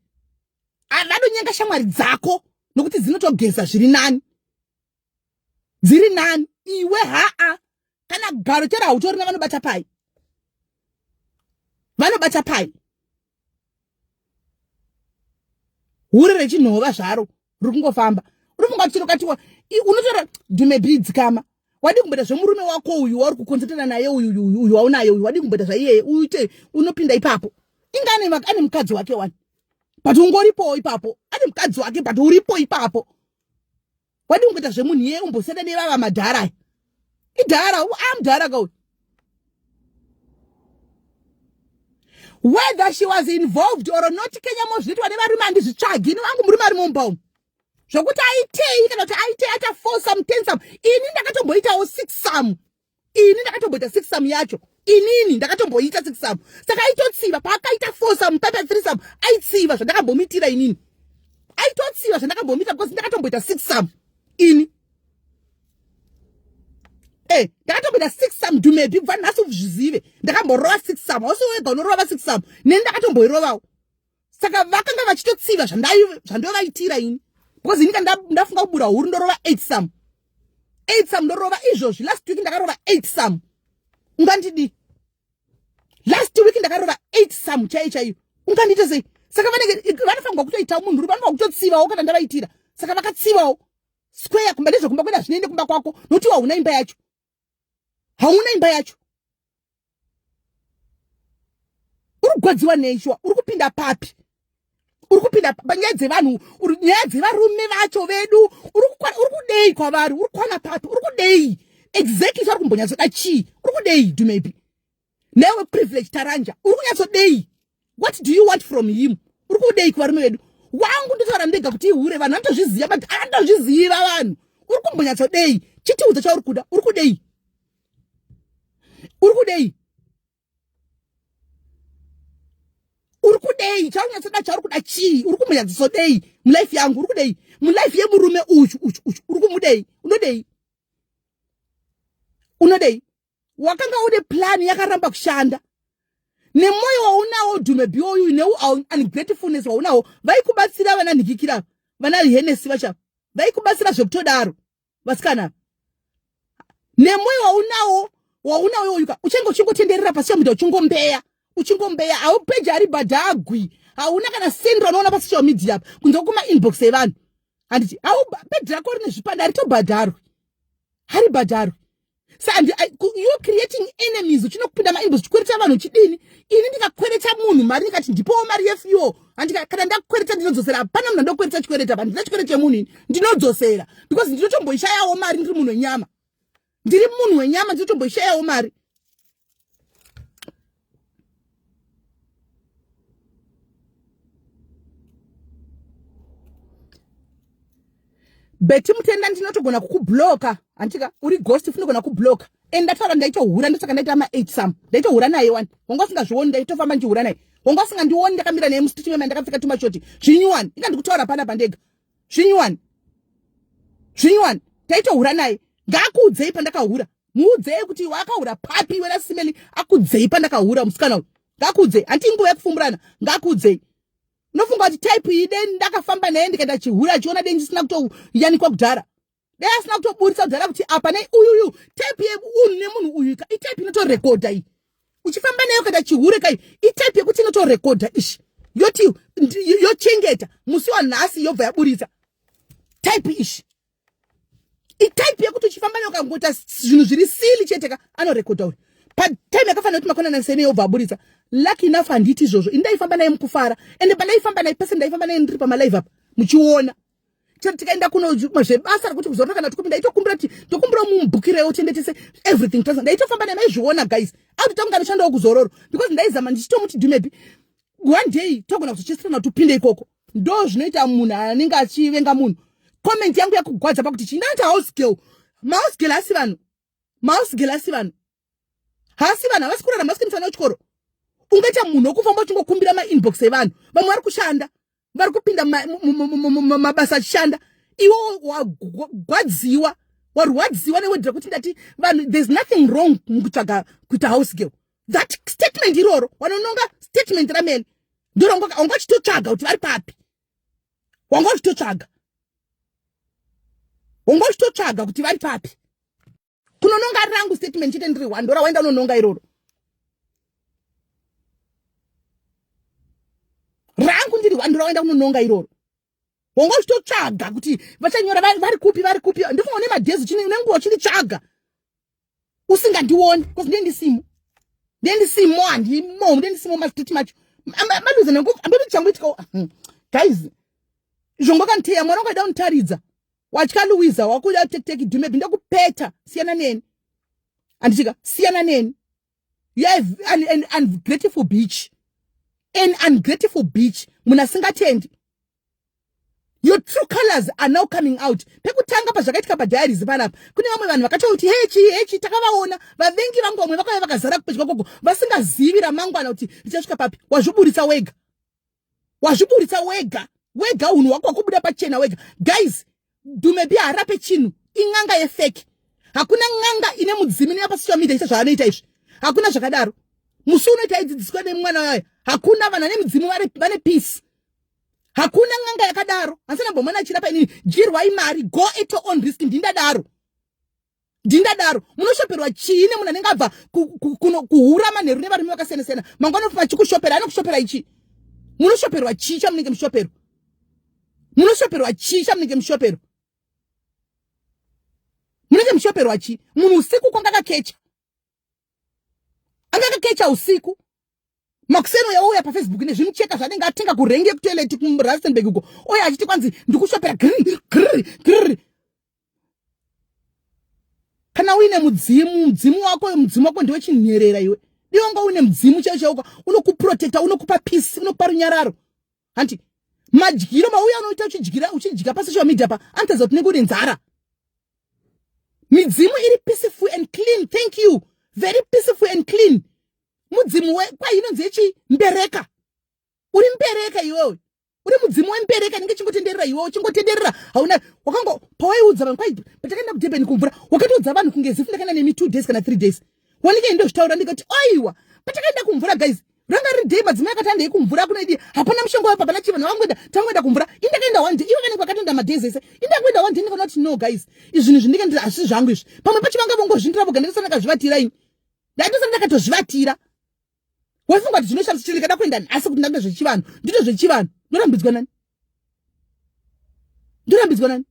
A: vanonyenga shamwari dzako nokuti dzinotogeza zviri nani dziri nani iwe haa kana garo chero hautorina vanobata pai vanobata pai hure rechinhova zvaro riri kungofamba uri funga kuchiro katiwa unotora dume bhi dzikama wadii kumboita zvemurume wako uyu wauri kukonzertana naye uyuuyu waunaye uyu wadii kumboita zvaiyeye uite unopinda ipapo inga ane mukadzi wake wani but ungoripowo ipapo ane mukadzi wake but uripo ipapo Wadi ungita zvemunhu yeye umbosiyana nevava madhara. Idhara, amdhara ka uyu. whether she was involved or not kenya mozviitwa nevarume handizvitsvagi ini vangu murume ari mumba umu zvokuti aitei kana kuti aitei aita four some ten some ini ndakatomboitawo six some ini ndakatomboita six sam yacho inini ndakatomboita six sam saka aitotsiva paakaita four sam pepe three sam aitsiva zvandakambomitira inini aitotsiva zvandakambomitira because ndakatomboita six sam ini e eh, ndakatomboita six sam dumebi kubva nhasi uzvizive ndakamborova six sam ausiwega unorova six sam neni ndakatomboirovawo saka vakanga vachitotsiva zvandovaitira ini because ini ka ndafunga kubura huru ndorova eight some eight some ndorova izvozvi last week ndakarova eight some ungandidii last week ndakarova eight some chaiyo chaiyo ungandiita sei saka vanenge vanofanirwa kutoitawo munhu uri vanofanirwa kutotsivawo kana ndavaitira saka vakatsivawo square kumba nezvekumba kwenda zvinoende kumba kwako notiwa huna imba yacho hauna imba yacho uri kugwadziwa nei shuwa uri kupinda papi uri kupinda panyaya dzevanhu nyaya dzevarume vacho vedu uri kudei kwavari uri kwana papi uri kudei exactly zvauri kumbonyatsoda chii uri kudei dumepi newe privilege taranja uri kunyatsodei what do you want from him uri kudei kuvarume vedu wangu ndotaura ndega kuti ihure vanhu vanotozviziva but anotozviziva vanhu uri kumbonyatsodei chitiudza chauri kuda uri kudei uri kudei uri kudei chaunyatsoda chauri kuda chii uri kumunyadzisodei mulife yangu uri kudei mulife yemurume uyu uyu uyu uri kumudei unodei unodei wakanga une plan yakaramba kushanda nemoyo waunawo dhume biouyu neungratefulness waunawo vaikubatsira vana nhikikira vana henesi vacha vaikubatsira zvekutodaro vasikana nemoyo waunawo waunawo uyuka uchange uchingotenderera pasi chamuda uchingombeya uchingombeya haupeji ari badhagwi hauna kana sendra unoona pasocial media apa kunze kuma inbox evanhu handiti au bedhi rako rine zvipanda haritobhadharwi haribhadharwi sandi you creating enemies uchinokupinda mainbox uchikwereta vanhu uchidini ini ndikakwereta munhu mari ndikati ndipowo mari yefuel handika kana ndakukwereta ndinodzosera hapana munhu andokwereta chikwereta pa ndina chikwereta chemunhu ini ndinodzosera because ndinotomboishayawo mari ndiri munhu wenyama ndiri munhu wenyama ndinotomboishayawo mari beti mutenda ndinotogona kukubloka hantika uri ghost funogona kubloka and ndataura ndaitohura ndosaka ndaita ma eight some ndaitohura naye wani wanga usingazvioni ndaitofamba ndichihura naye wanga usingandioni ndakamira naye musitichimema ndakapfeka tumashoti zvinyuwani inga ndikutaura panapa ndega zvinyuwani zvinyuwani taitohura naye ngaakuudzei pandakahura muudzei kuti iwe akahura papi iwe nasimeli akudzei pandakahura musikana uyu ngaakuudzei hanti inguva yekufumburana ngaakuudzei unofunga kuti type iyi deni ndakafamba naye ndikaita chihura achiona deni chisina kutoyanikwa kudhara dai asina kutoburitsa kudhara kuti apa nei uyuyu type yeunhu nemunhu uyu ka itype inotorekodha iyi uchifamba nayo kada chihure kai itype yekuti inotorekodha ishi yoti yochengeta musi wanhasi yobva yaburitsa type ishi itype yekuti uchifamba nayo kangoita zvinhu zviri sili chete ka anorekodha uyu patime yakafanira kuti makona nansene yobva aburitsa lucky enough handiti izvozvo ini ndaifamba naye mukufara ende pandaifamba naye pese ndaifamba naye ndiri pamalive apa muchiona chero tikaenda kuno zvebasa rekuti kuzorora kana tikumi ndaitokumbira kuti ndokumbira mumubhukirewo tiende tese everything tose ndaitofamba naye maizviona guys auti tongani shandawo kuzororo because ndaizama ndichitomuti dumebi one day togona kuzochesirana kuti upinde ikoko ndo zvinoita munhu anenge achivenga munhu comment yangu yakugwadza pakuti chii ndaita house girl mahouse girl asi vanhu mahouse girl asi vanhu hasi vanhu havasi kurarama vasike mufana wechikoro ungaita munhu wokufamba uchingokumbira mainbox evanhu vamwe vari kushanda vari kupinda mabasa achishanda iwo wagwadziwa warwadziwa newedira kuti ndati vanhu there's nothing wrong mukutsvaga kuita house girl that statement iroro wanononga statement ramene ndiro wanga uchitotsvaga kuti vari papi wanga uchitotsvaga wanga uchitotsvaga kuti vari papi kunononga ari rangu statement chete ndiri one ndora waenda unononga iroro rangu ndiri one ndora waenda unononga iroro wonga uchitotsvaga kuti vachanyora vari kupi vari kupi ndifunga une madhezi chine nenguva uchinditsvaga usingandioni because ndiye ndisimo ndiye ndisimo handimo ndiye ndisimo mastiti macho maluze nengu ambiri changu itika hmm. guys zvongokanteya mwana wakaida unitaridza watya luwiza wakuda tekiteki dhumebhi ndokupeta siyana neni anditika siyana neni you have an, an ungrateful beach an ungrateful beach munhu asingatendi your true colors are now coming out pekutanga pazvakaitika padiaries panapa kune vamwe vanhu vakatouti hechi hechi takavaona vavengi vangu vamwe vakauya vakazara kupedya koko vasingazivi ramangwana kuti richasvika papi wazviburitsa wega wazviburitsa wega wega unhu wako wakubuda pachena wega guys dumebi harape chinhu in'anga yefeki hakuna n'anga ine mudzimi inoya pasocial media ita zvaanoita izvi hakuna zvakadaro musi unoita aidzidziswa nemwana wayo hakuna vanhu vane mudzimu vane peace hakuna n'anga yakadaro hansanambomwana achirapa inini jirwai mari go at your own risk ndindadaro ndingadaro munoshoperwa chii nemunhu anenge abva kuhura manheru nevarume vakasiyana siyana mangwana vachikushopera anokushopera ichii munoshoperwa chii chamunenge mushopero munoshoperwa chii chamunenge mushopero munenge muchoperwa chi munhu usiku kwangakakecha anga akakecha usiku makuseno yauya pafacebook nezvimucheka zvanenge atenga kurenge kutoilet kurastenburg uko oya achiti kwanzi ndikushopera grr kana uine mudzimu mudzimu wako mudzimu wako ndiwe chinherera iwe dionga uine mudzimu chaiwo chauka unokuprotecta unokupa peace unokupa runyararo hanti madyiro mauya anoita uchidyira uchidya pasocial media pa anotadza kuti nekuti nzara midzimu iri peaceful and clean thank you very peaceful and clean mudzimu wekwai inonzi yechi mbereka uri mbereka iwewe uri mudzimu wembereka inenge chingotenderera iwewe chingotenderera hauna wakanga pawaiudza vanhu kwai patakaenda kudurban kumvura wakatoudza vanhu kunge zifu ndakaenda nemi two days kana three days wanike ndozvitaura ndikati aiwa patakaenda kumvura guys ranga riri day madzimai akati andei kumvura kuna idii hapana mushonga wepa pana chivana vangoenda tangoenda kumvura indakaenda one day ivo vanenge vakatoenda madays ese indangoenda one day ndikaona kuti no guys izvinhu zvindinge ndiri hazvisi zvangu izvi pamwe pacho vanga vongozvindira voga ndikasana ndakazvivatira ini ndaitosana ndakatozvivatira waifunga kuti zvinoshamisa chiri ndikada kuenda nhasi kuti ndange zvechivanhu ndito zvechivanhu ndorambidzwa nani ndorambidzwa nani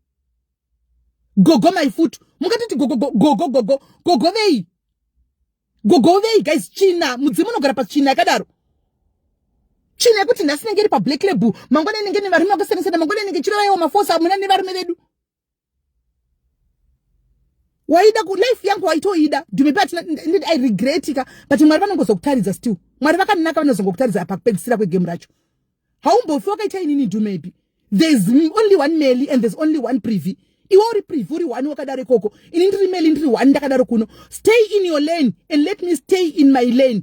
A: gogo my foot mungatoti gogo gogo gogo gogo vei gogo vei guys china mudzimu unogara pachina yakadaro china yekuti nhasi inenge iri pablack label mangwana inenge nevarume vakasiyana siyana mangwana inenge chirova yewo mafosa amuna nevarume vedu waida ku life yangu waitoida dume pati nditi i regret ka but mwari vanongozokutaridza still mwari vakanaka vanozongokutaridza apa kupedzisira kwegame racho haumbofi wakaita inini dumepi there's only one meli and there's only one privy iwe uri privy uri one wakadaro ikoko ini ndiri meli ndiri one ndakadaro kuno stay in your lane and let me stay in my lane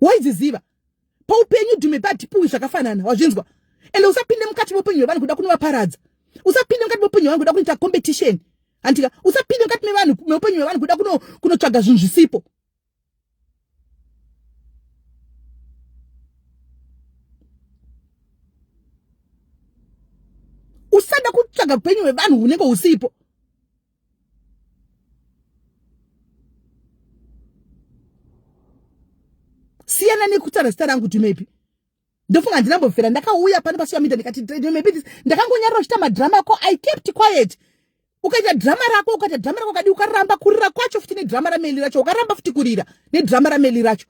A: waiziziva paupenyu dhume padipuwi zvakafanana wazvinzwa ende usapinde mukati meupenyu hwevanhu kuda kunovaparadza usapinde mukati meupenyu hwevanhu kuda kunoita competition handika usapinde mukati mevanhu meupenyu hwevanhu kuda kunotsvaga zvinhu zvisipo usada kutsvaga upenyu hwevanhu hunenge husipo siyana nekutara zita rangu kuti maybe ndofunga handina mbofera ndakauya pano pasuya mida ndikati maybe this ndakangonyarira uchita madrama ako i kept quiet ukaita drama rako ukaita drama rako kadi ukaramba kurira kwacho futi nedrama rameli racho ukaramba futi kurira nedrama rameli racho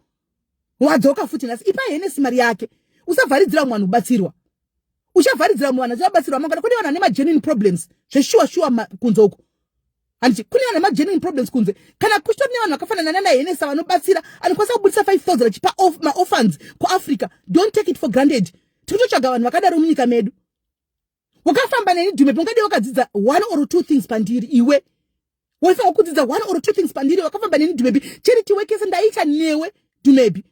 A: wadzoka futi nhasi ipa henesi mari yake usavharidzira mwanhu ubatsirwa uchavharidzira mwana zvivabatsirwa mangwana kune vanhu vane magenuine problems zveshuwa shuwa kunze uku hanzi kune vanhu magenuine problems kunze kana kuchitori nevanhu vakafanana nana henesa vanobatsira anokwanisa kubudisa 5000 achipa maorphans kuafrica don't take it for granted tikutotsvaga vanhu vakadaro munyika medu wakafamba neni dhume pongadi wakadzidza one or two things pandiri iwe waifanwa kudzidza one or two things pandiri wakafamba neni dhumebi charity wekese ndaiita newe dhumebi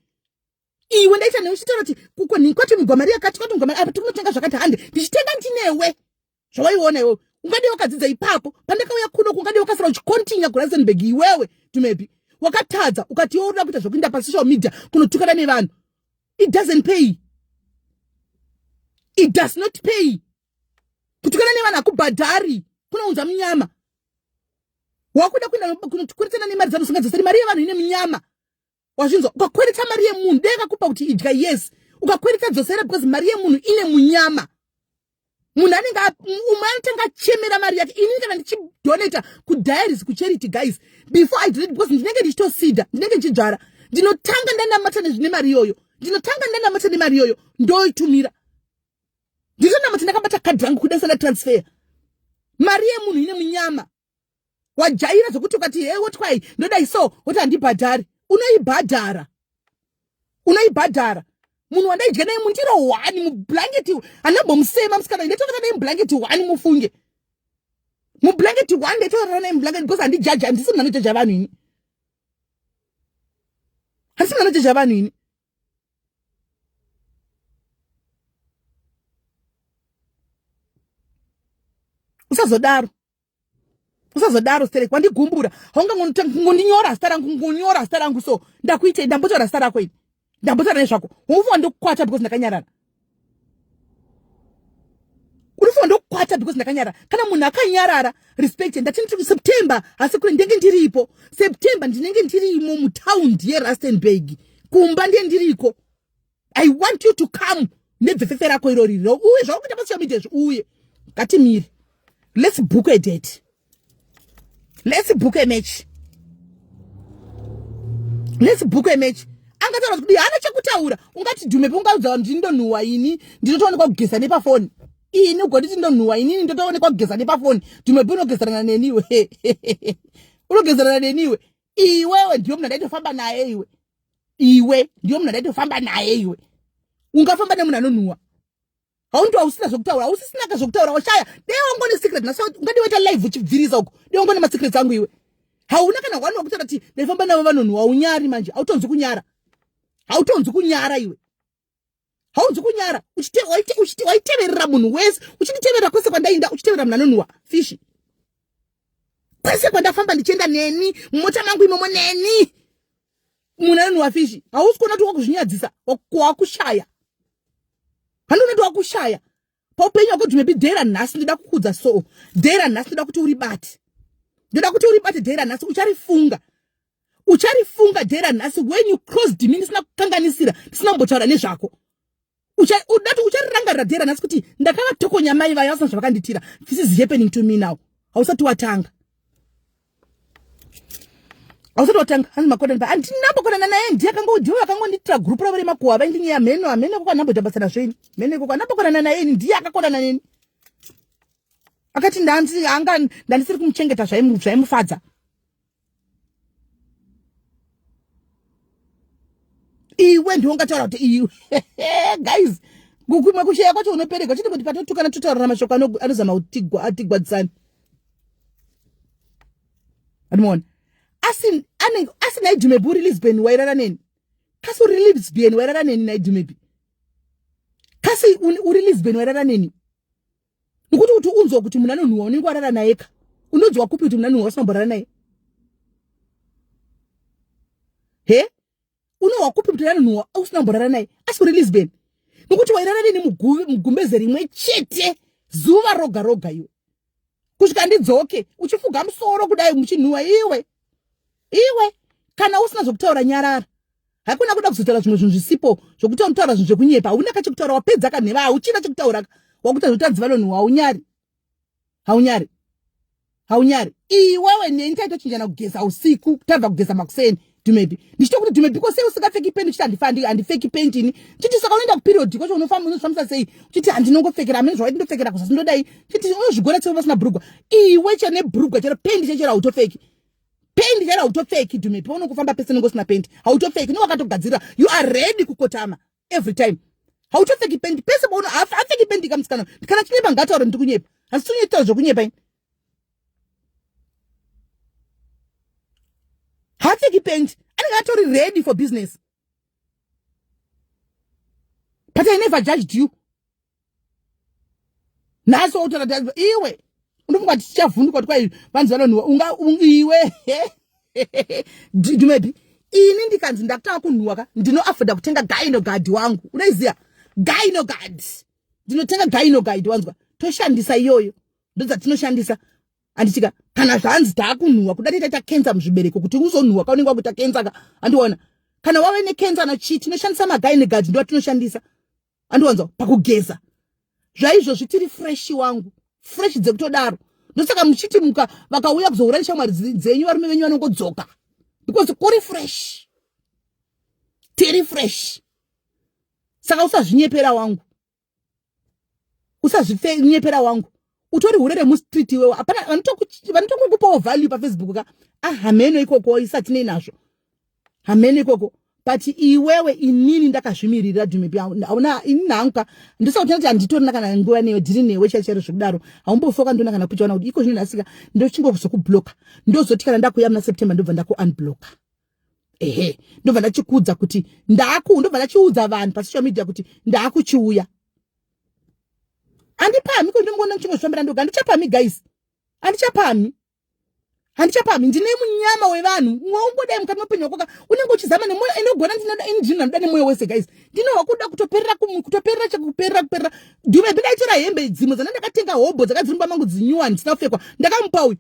A: iwe ndaita newe uchitaura kuti kuko kwati migwamari yakati kwati migwamari apa tikunotenga zvakati hande ndichitenga ndinewe zvawaiona iwewe ungadei wakadzidza ipapo pandakauya kuno kungadei wakasara uchikontinya kurasenberg iwewe tumebi wakatadza ukati iwe urida kuita zvekuinda pasocial media kunotukana nevanhu it doesn't pay it does not pay kutukana nevanhu hakubhadhari kunounza munyama wakuda kuenda kunotukurisana nemari dzanhu zvinga dzasari mari yevanhu ine munyama wazvinzwa ukakwereta mari yemunhu dei akakupa kuti idya yes ukakwereta dzosera because mari yemunhu ine munyama munhu anenge umwe anotanga achemera mari yake inini kana ndichidonata kudiaries kucharity guys before i donate because ndinenge ndichitosida ndinenge ndichidzvara ndinotanga ndanamata nezvine mari iyoyo ndinotanga ndanamata nemari iyoyo ndoitumira nditonamata ndakabata kadhi rangu kudasana transfer mari yemunhu ine munyama wajaira zvekuti ukati he wotwai ndodai so woti handibhadhari unoibhadhara unoibhadhara munhu wandaidya naye mundiro hwani mublanketi handambomusema musikana ndatorara naye mublanketi hwani mufunge mublanketi hwani ndatorara naye mublanketi because handijaja handisi munhu anojaja vanhu ini handisi munhu anojaja vanhu ini usazodaro usazodaro sterek wandigumbura haungangonota ngondinyora zita rangu ngonyora zita rangu so ndakuitei ndambotaura zita rako ini ndambotaura nezvako unofunga ndokukwata because ndakanyarara unofunga ndokukwata because ndakanyarara kana munhu akanyarara respect ndati nditi september asi kure ndenge ndiripo september ndinenge ndirimo mutown yerustenburg kumba ndiye ndiriko i want you to come nebvefefe rako iro riri uye zvakuita pasocial media zvi uye ngatimire let's book a date let's book a match let's book a match angataura kuti hana chekutaura ungati dhume peungaudza vanhu kuti ndonhuwa ini ndinotoonekwa kugeza nepafoni ini ugonditi ndonhuwa inini ndotoonekwa kugeza nepafoni dhume pe unogezerana neniwe unogezerana neniwe iwewe ndiwe munhu andaitofamba naye iwe iwe ndiyo munhu andaitofamba naye iwe ungafamba nemunhu anonhuwa haundi wausina zvokutaura ausisinaka zvokutaura washaya dei wango nesecret nasa ungadi waita live uchibvirisa uko dei wango nemasecrets angu iwe hauna kana wani wakutaura ti ndaifamba navo vanonhuwa unyari manje hautonzi kunyara hautonzi kunyara iwe haunzi kunyara waiteverera munhu wese uchinditeverera kwese kwandainda uchiteverera munhu anonhuwa fishi kwese kwandafamba ndichienda neni mumota mangu imomo neni munhu anonhuwa fishi hausi kuona kuti wakuzvinyadzisa wakushaya handiona kuti wakushaya paupenyu wako dhimebi day ranhasi ndoda kukudza soo day ranhasi ndoda kuti uribate ndoda kuti uribate day ranhasi ucharifunga ucharifunga day ranhasi when you cross dimi ndisina kukanganisira ndisina kumbotaura nezvako udati ucharirangarira day ranhasi kuti ndakavatokonya mai vayo vasina zvavakandiitira this is happening to me now hausati watanga ausati watanga hanzi makodani pa andinambokonana naye ndiye akangoudhiwa akangondiitira gurupu ravo remakuhwa vaindinyeya hameno hameno koko anamboita basa nazvo ini hameno koko anambokonana naye ini ndiye akakonana neni akati ndanzi anga ndandisiri kumuchengeta zvaimufadza iwe ndiwe ungataura kuti iwe guys kukumwe kusheya kwacho unopereka chiti kuti patotukana totaurana mashoko anozama kutigwadzisana andimaona asi anenge asi naidumebi uri lisbon wairara neni kasi uri lisbon wairara neni naidumebi kasi uri lisbon wairara neni nokuti kuti unzwa kuti munhu anonhuwa unenge warara naye ka unonzwa kupi kuti munhu anonhuwa usinamborara naye he unohwa kupi kuti anonhuhwa ausina kumborara naye asi uri lisbon nokuti wairara neni mugumbeze rimwe chete zuva roga roga iwe kusvika ndidzoke uchifuga musoro kudai muchinhuhwa iwe iwe kana usina zvokutaura nyarara hakuna kuda kuzotaura zvimwe zvinhu zvisipo zvokuti unotaura zvinhu zvekunyepa hauna kachekutaura wapedza kanheva hauchina chekutauraka wakuta zvotanzi vanonhuhwa unyari haunyari haunyari iwewe neni taitochinjana kugeza usiku tabva kugeza makuseni dhumebi ndichitokuti dhumebi ko sei usingapfeki penti uchiti handifandi handipfeki penti ini chiti saka unoenda kuperiodi kwacho unofamba unozvifambisa sei chiti handinongopfekera amene zvawaiti ndopfekera kuzasi ndodai chiti unozvigona sei vasina bhurugwa iwe chene bhurugwa chero penti chechero hautopfeki penti chero hautopfeki dhumebi unongofamba pese nongosina penti hautopfeki nowakatogadzirira you are ready kukotama every time hauchapfeki pendi pese pauno apfeki pendi ka musikana kana chinyepa ngataure ndiri kunyepa hasi tinonyetaura zvekunyepa ini haapfeki pendi anenge atori ready for business but i never judged you nhasi wautaura daiva iwe unofunga kuti tichavhunduka kuti kwai vanzi vanonhuwa unga iwe dumebi ini ndikanzi ndakutanga kunhuwa ka ndinoafoda kutenga gainogadi wangu unoiziva gainogadi ndinotenga gainogadi wanzwa toshandisa iyoyo ndodzatinoshandisa anditika kana zvanzi taakunhuwa kuda titaita kensa muzvibereko kuti uzonhuwa ka unenge wakuita kensa ka andiona kana wave nekensa nachii tinoshandisa magainogadi ndovatinoshandisa andiwanzwa pakugeza zvaizvozvi tiri fresh wangu fresh dzekutodaro ndosaka muchiti muka vakauya kuzohura neshamwari dzenyu varume venyu vanongodzoka because kuri fresh tiri fresh saka usazvinyepera wangu usazvinyepera wangu utori hure remustreet iwewo hapana vanotokukupawo value pafacebook ka ahameno ah, ikoko isatinei nazvo hameno ikoko but iwewe inini ndakazvimiririra dhumepi hauna inini hangu ka ndisakutenda kuti handitorina kana nguva newe ndiri newe chai chairo zvekudaro haumbofi wakandiona kana kuchaona kuti iko zvino ndasika ndochingozokublocka ndozoti kana ndakuya muna september ndobva ndakuunblocka ehe ndobva ndachikuudza kuti ndaku ndobva ndachiudza vanhu pasocial media kuti ndakuchiuya handipami ko ndinomuona ndichingozvifambira ndoga handichapami guys handichapami handichapami ndine munyama wevanhu ungodai mukati meupenyu wakoka unenge uchizama nemoyo inogona ndinodinoda nemoyo wese guys ndinohwa kuda kutoperera kutoperera chekuperera kuperera duve bindaitora hembe dzimwe dzana ndakatenga hobho dzakadzirumba mangu dzinyuwani dzisinafekwa ndakamupa uyu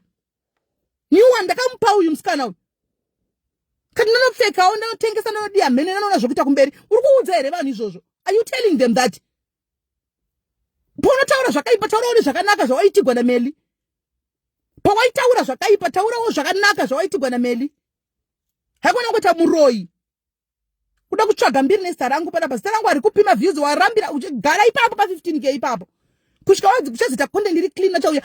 A: new one ndakamupa uyu musikana uyu kati ndinopfekawo ndinotengesa ndinodiya mhene ndinoona zvokuita kumberi uri kuudza here vanhu izvozvo are you telling them that paunotaura zvakaipa taurawo nezvakanaka zvawaitigwa nameli pawaitaura zvakaipa taurawo zvakanaka zvawaitigwa nameli haikona kuita muroyi kuda kutsvaga mbiri nezita rangu panapa zita rangu ari kupima views warambira uchigara ipapo pa 15 k ipapo kusvika wadzi kuchazita content iri clean achauya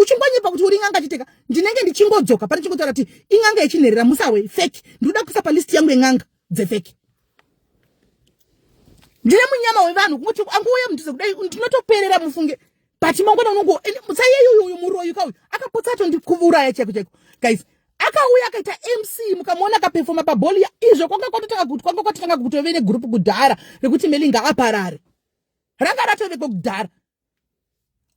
A: uchingonyepa kuti uri n'anga chiteka ndinenge ndichingodzoka pane chingotaura kuti in'anga yechinherera musawe fake ndikuda kuisa pa list yangu yen'anga dzefake ndine munyama wevanhu kungoti anguuye mudhuze kudai ndinotoperera mufunge but mangwana unongo musaiyeyo uyu muroyi kauyu akapotsa atondikuuraya chaiko chaiko guys akauya akaita mc mukamuona akapefoma pabholi ya izvo kwanga kwatotanga kuti kwanga kwatotanga kutove negrupu kudhara rekuti melinga aparare ranga ratoveko kudhara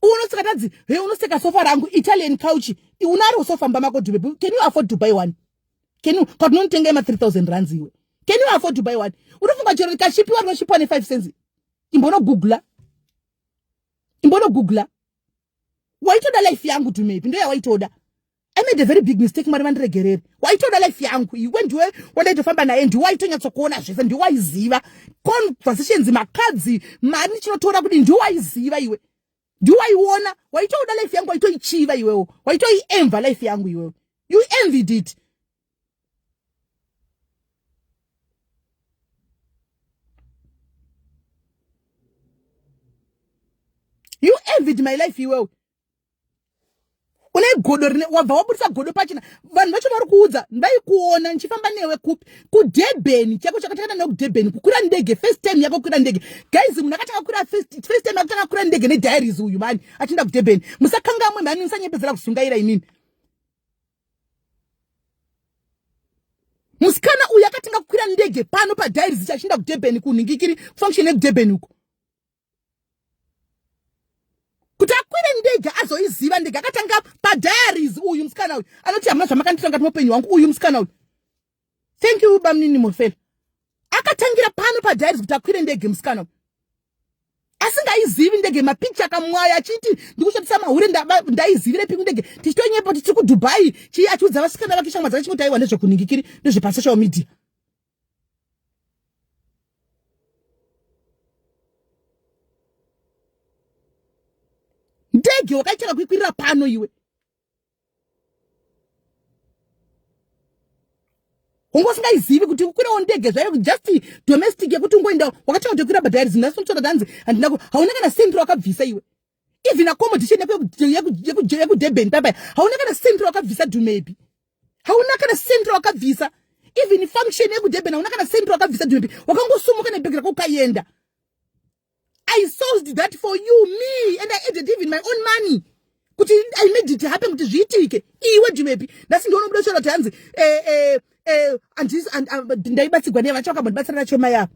A: unoseka tadzi he unoseka sofa rangu italian couch unaro sofa mba mako dube can you afford to buy one can you but unonitenga ema 3000 rands iwe can you afford to buy one unofunga chero rikashipiwa rinoshipiwa ne 5 cents imbonogoogla imbonogugla waitoda life yangu tumepi ndo yawaitoda i made a very big mistake mwari vandiregerere waitoda life yangu iwe ndiwe wandaitofamba naye ndiwe waitonyatsokuona zvese ndiwe waiziva conversations makadzi mari ndichinotora kuti ndiwe waiziva iwe ndiwe waiona waitoda life yangu waitoichiva iwewo waitoiemva life yangu iwewo you envied it you envied my life iwewe une godo rine wabva wabudisa godo pachina vanhu vacho vari kuudza ndaikuona ndichifamba newe kupi kudebheni chako chakatangana nekudebheni kukwira ndege first time yako kukwira ndege guys munhu akatanga kukwira first time akutanga kukwira ndege nediaries uyu mani achienda kudebheni musakangamwe mhani musanyepedzera kuzungaira imini musikana uyu akatenga kukwira ndege pano padairi zicha achienda kudurban kunhingikiri kufunction yekudurban uko kuti akwire ndege azoiziva ndege akatanga padaries uyu musikana uyu anoti hamuna zvamakanditanga timupenyu wangu uyu musikana uyu thank you bamnini mofela akatangira pano padiaries kuti akwire ndege musikana asingaizivi ndege mapicha akamwaya achiti ndikushandisa mahure ndaizivire piku ndege tichitonyepo kuti tiri kudubai chii achiudza vasikana vake shamwa dzake chimotaiwa nezvekuningikiri nezvepasocial media ndege wakaitira kuikwirira pano iwe wanga usingaizivi kuti ukwirawo ndege zvayo just domestic yekuti ungoendawo wakatanga tokwira bhadhari zinhasi unotsvaka danzi handina ku hauna kana sentro wakabvisa iwe even accommodation yako yekudurban papaya hauna kana sentro wakabvisa dumebi hauna kana sentro wakabvisa even function yekudurban hauna kana sentro wakabvisa dumebi wakangosumuka nebhegi rako ukaenda i sourced that for you me and i added even my own money kuti i made it happen kuti zviitike iwe ndivepi ndasi ndiona kuda kutaura kuti hanzi eh, eh, eh, ndaibatsigwa neya vacho vakambondibatsira nacho mai avo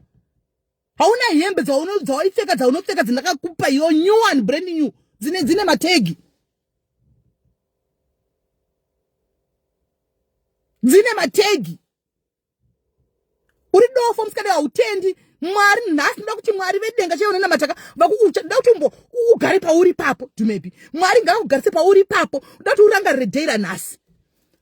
A: hauna hembe dzawaipfeka dzaunopfeka dzandakakupa yo new one brand new dzine dzine mategi dzine mategi uri dofo musikana hautendi mwari nhasi ndoda kuti mwari vedenga chaivo nenamataka vakukucha ndoda kuti umbo ugare pauri papo dumebi mwari ngavakugarise pauri papo ndoda kuti urangarire day ranhasi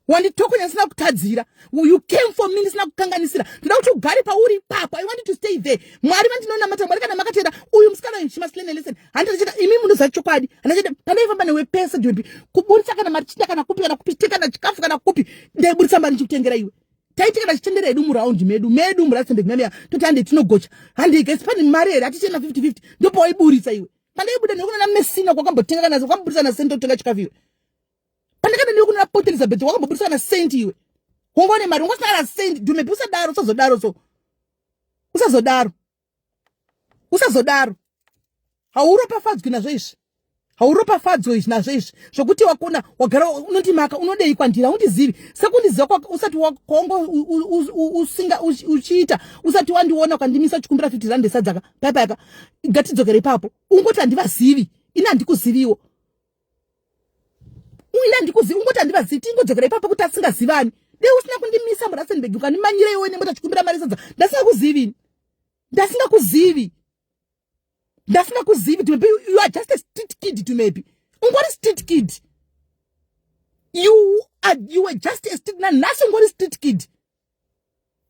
A: wanditokonya ndisina kutadzira you came for me ndisina kukanganisira ndoda kuti ugare pauri papo i wanted to stay there mwari vandinonamata mwari kana makatenda uyu musikana uyu shimasilene listen handichacheta imi munoziva chokwadi handichacheta pandaifamba newe pese dumebi kuburitsa kana mari chita kana kupi kana kupi chita kana chikafu kana kupi ndaiburitsa mari ndichikutengera iwe taitikana chitendera edu muraundi medu medu muratsembeknamea toti hande tinogocha hande gesi pane mari here hatichena 5050 ndopawaiburitsa iwe pandaibuda nekunana mesina kwakambotenga kana kwakamburitsa na senti otenga chikafu iwe pandakada nekunana pot elizabeth kwakamboburitsa na senti iwe wongaone mari wongasina kana senti dhumepi usadaro usazodaro so usazodaro usazodaro hauropafadzwi nazvo izvi hauropafadzwi izvi nazvo izvi zvokuti wakona wagara unondimaka unodei kwandira undizivi sekundiziva usati wakongo usinga uchiita usati wandiona ukandimisa uchikumbira fifty rand esadzaka paipaika ngatidzokere ipapo ungoti handivazivi ini handikuziviwo uya ndikuzivi ungoti handivazivi tingodzokera ipapo kuti asingazivani dei usina kundimisa murasenbeg ukandimanyira iwe nemota achikumbira mari sadza ndasingakuzivini ndasingakuzivi ndasingakuzivi maybe you are just a street kid to maybe ungori street kid you are you were just a street nanhasi ungori street kid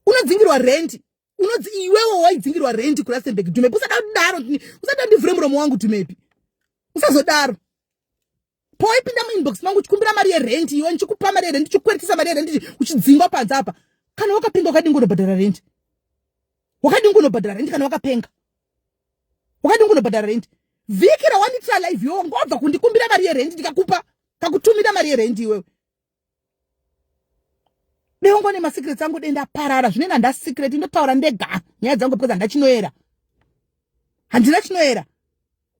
A: unodzingirwa rendi unodzi iwewo waidzingirwa rendi kurastenburg dumepi usada kudaro usada ndivhure muromo wangu dumepi usazodaro poipinda muinbox mangu uchikumbira mari yerendi iwe ndichikupa mari yerendi uchikweretesa mari yerendi uchidzingwa panze apa kana wakapenga wakadingi unobhadhara rendi wakadingi unobhadhara rendi kana wakapenga wakadingi unobhadhara rendi vhiki rawanditira live yo ngobva kundikumbira mari yerendi ndikakupa kakutumira mari yerendi iwewe dengwa nemasecrets angu denda parara zvine nanda secret ndotaura ndega nyaya dzangu because handa chinoera handina chinoera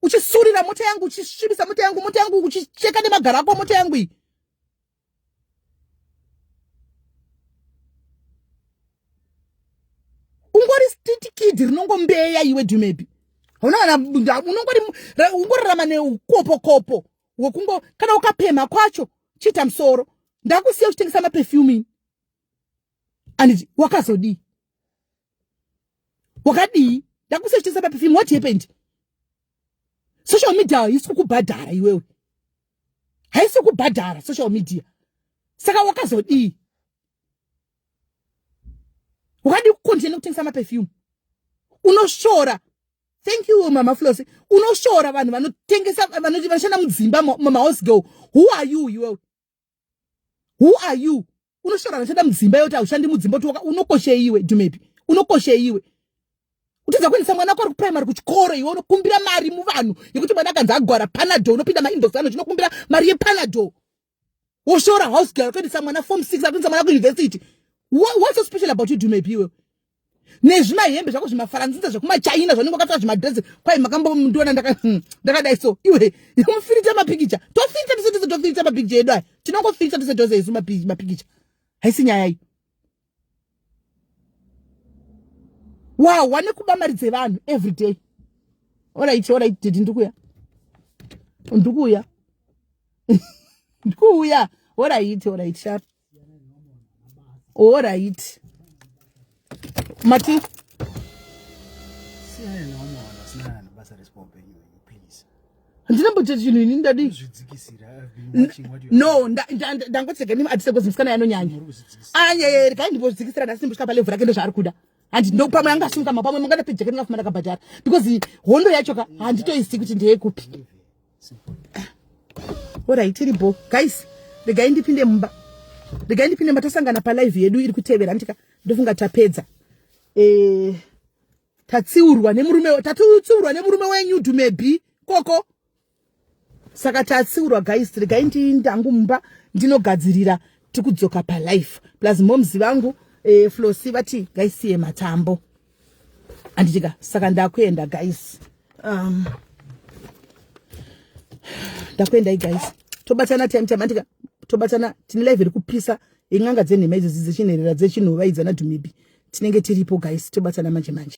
A: uchisurira mota yangu uchisvibisa mota yangu mota yangu uchicheka nemagaro ako mota yangu iyi ungori stitikidi rinongombeya iwe dumebi unongorarama neukopokopo wekungo kana ukapemha kwacho chiita musoro ndakusiya uchitengesa mapefumini anditi wakazodii wakadii ndakusiya uchitengesa mapefumini what happened social media haisi kukubhadhara iwewe haisi kubhadhara social media saka wakazodii wakadii kukontinue kutengesa mapefumini unoshora thank you mama flosi unoshora vanhu vanotengesa vanoti vanoshanda mudzimba mahouse girl who are you iwewe who are you unoshora vanoshanda mudzimba yoti haushandi mudzimba kuti unokoshei iwe dumepi unokoshei iwe kutidza kuendesa mwana wako ari kuprimary kuchikoro iwe unokumbira mari muvanhu yekuti mwana akanzi agwara panadol unopinda maindox ano chinokumbira mari yepanadol woshora house girl kuendesa mwana form six akuendesa mwana kuuniversity what's so special about you dumepi iwewe nezvimahembe zvako zvimafaranzinza zvekumachina zvanenge wakapfeka zvimadresi kwai makambomundiona hmm, ndakadai so iwe mufirita mapikicha tofirita tese tese tofirita mapikicha edu aya tinongofirita tese tose isu mapikicha haisi nyaya iyi wahwa nekuba mari dzevanhu every day orit orit didi ndikuuya ndikuuya ndikuuya orit orit shar orit mati handina mboita chinhu ini ndadi no ndangotsega nimi atise kozi musikana yanonyanya anyayeri kai ndimbodzikisira ndasini mbosvika palevhu rake ndozvaari kuda handi ndo pamwe anga asimuka ma pamwe mungada pejeke ndingafuma ndakabhadhara because hondo yacho ka handitoisi kuti ndeyekupi orai tiri bo guys regai ndipinde mumba regai ndipinde mumba tasangana palive yedu iri kutevera handitika ndofunga tapedza eh tatsiurwa nemurume tatiutsiurwa nemurume wenyu dhumebhi koko saka tatsiurwa guys regai ndiindangu mumba ndinogadzirira tikudzoka palife plus moms vangu eh, flosi vati ngaisiye matambo anditika saka ndakuenda guys um, ndakuendai guys tobatana time time andika tobatana tine live iri kupisa in'anga dzenhema idzo dzichinherera dzechinhova idzi anadhumibi tinenge tiripo guys tobatana manje manje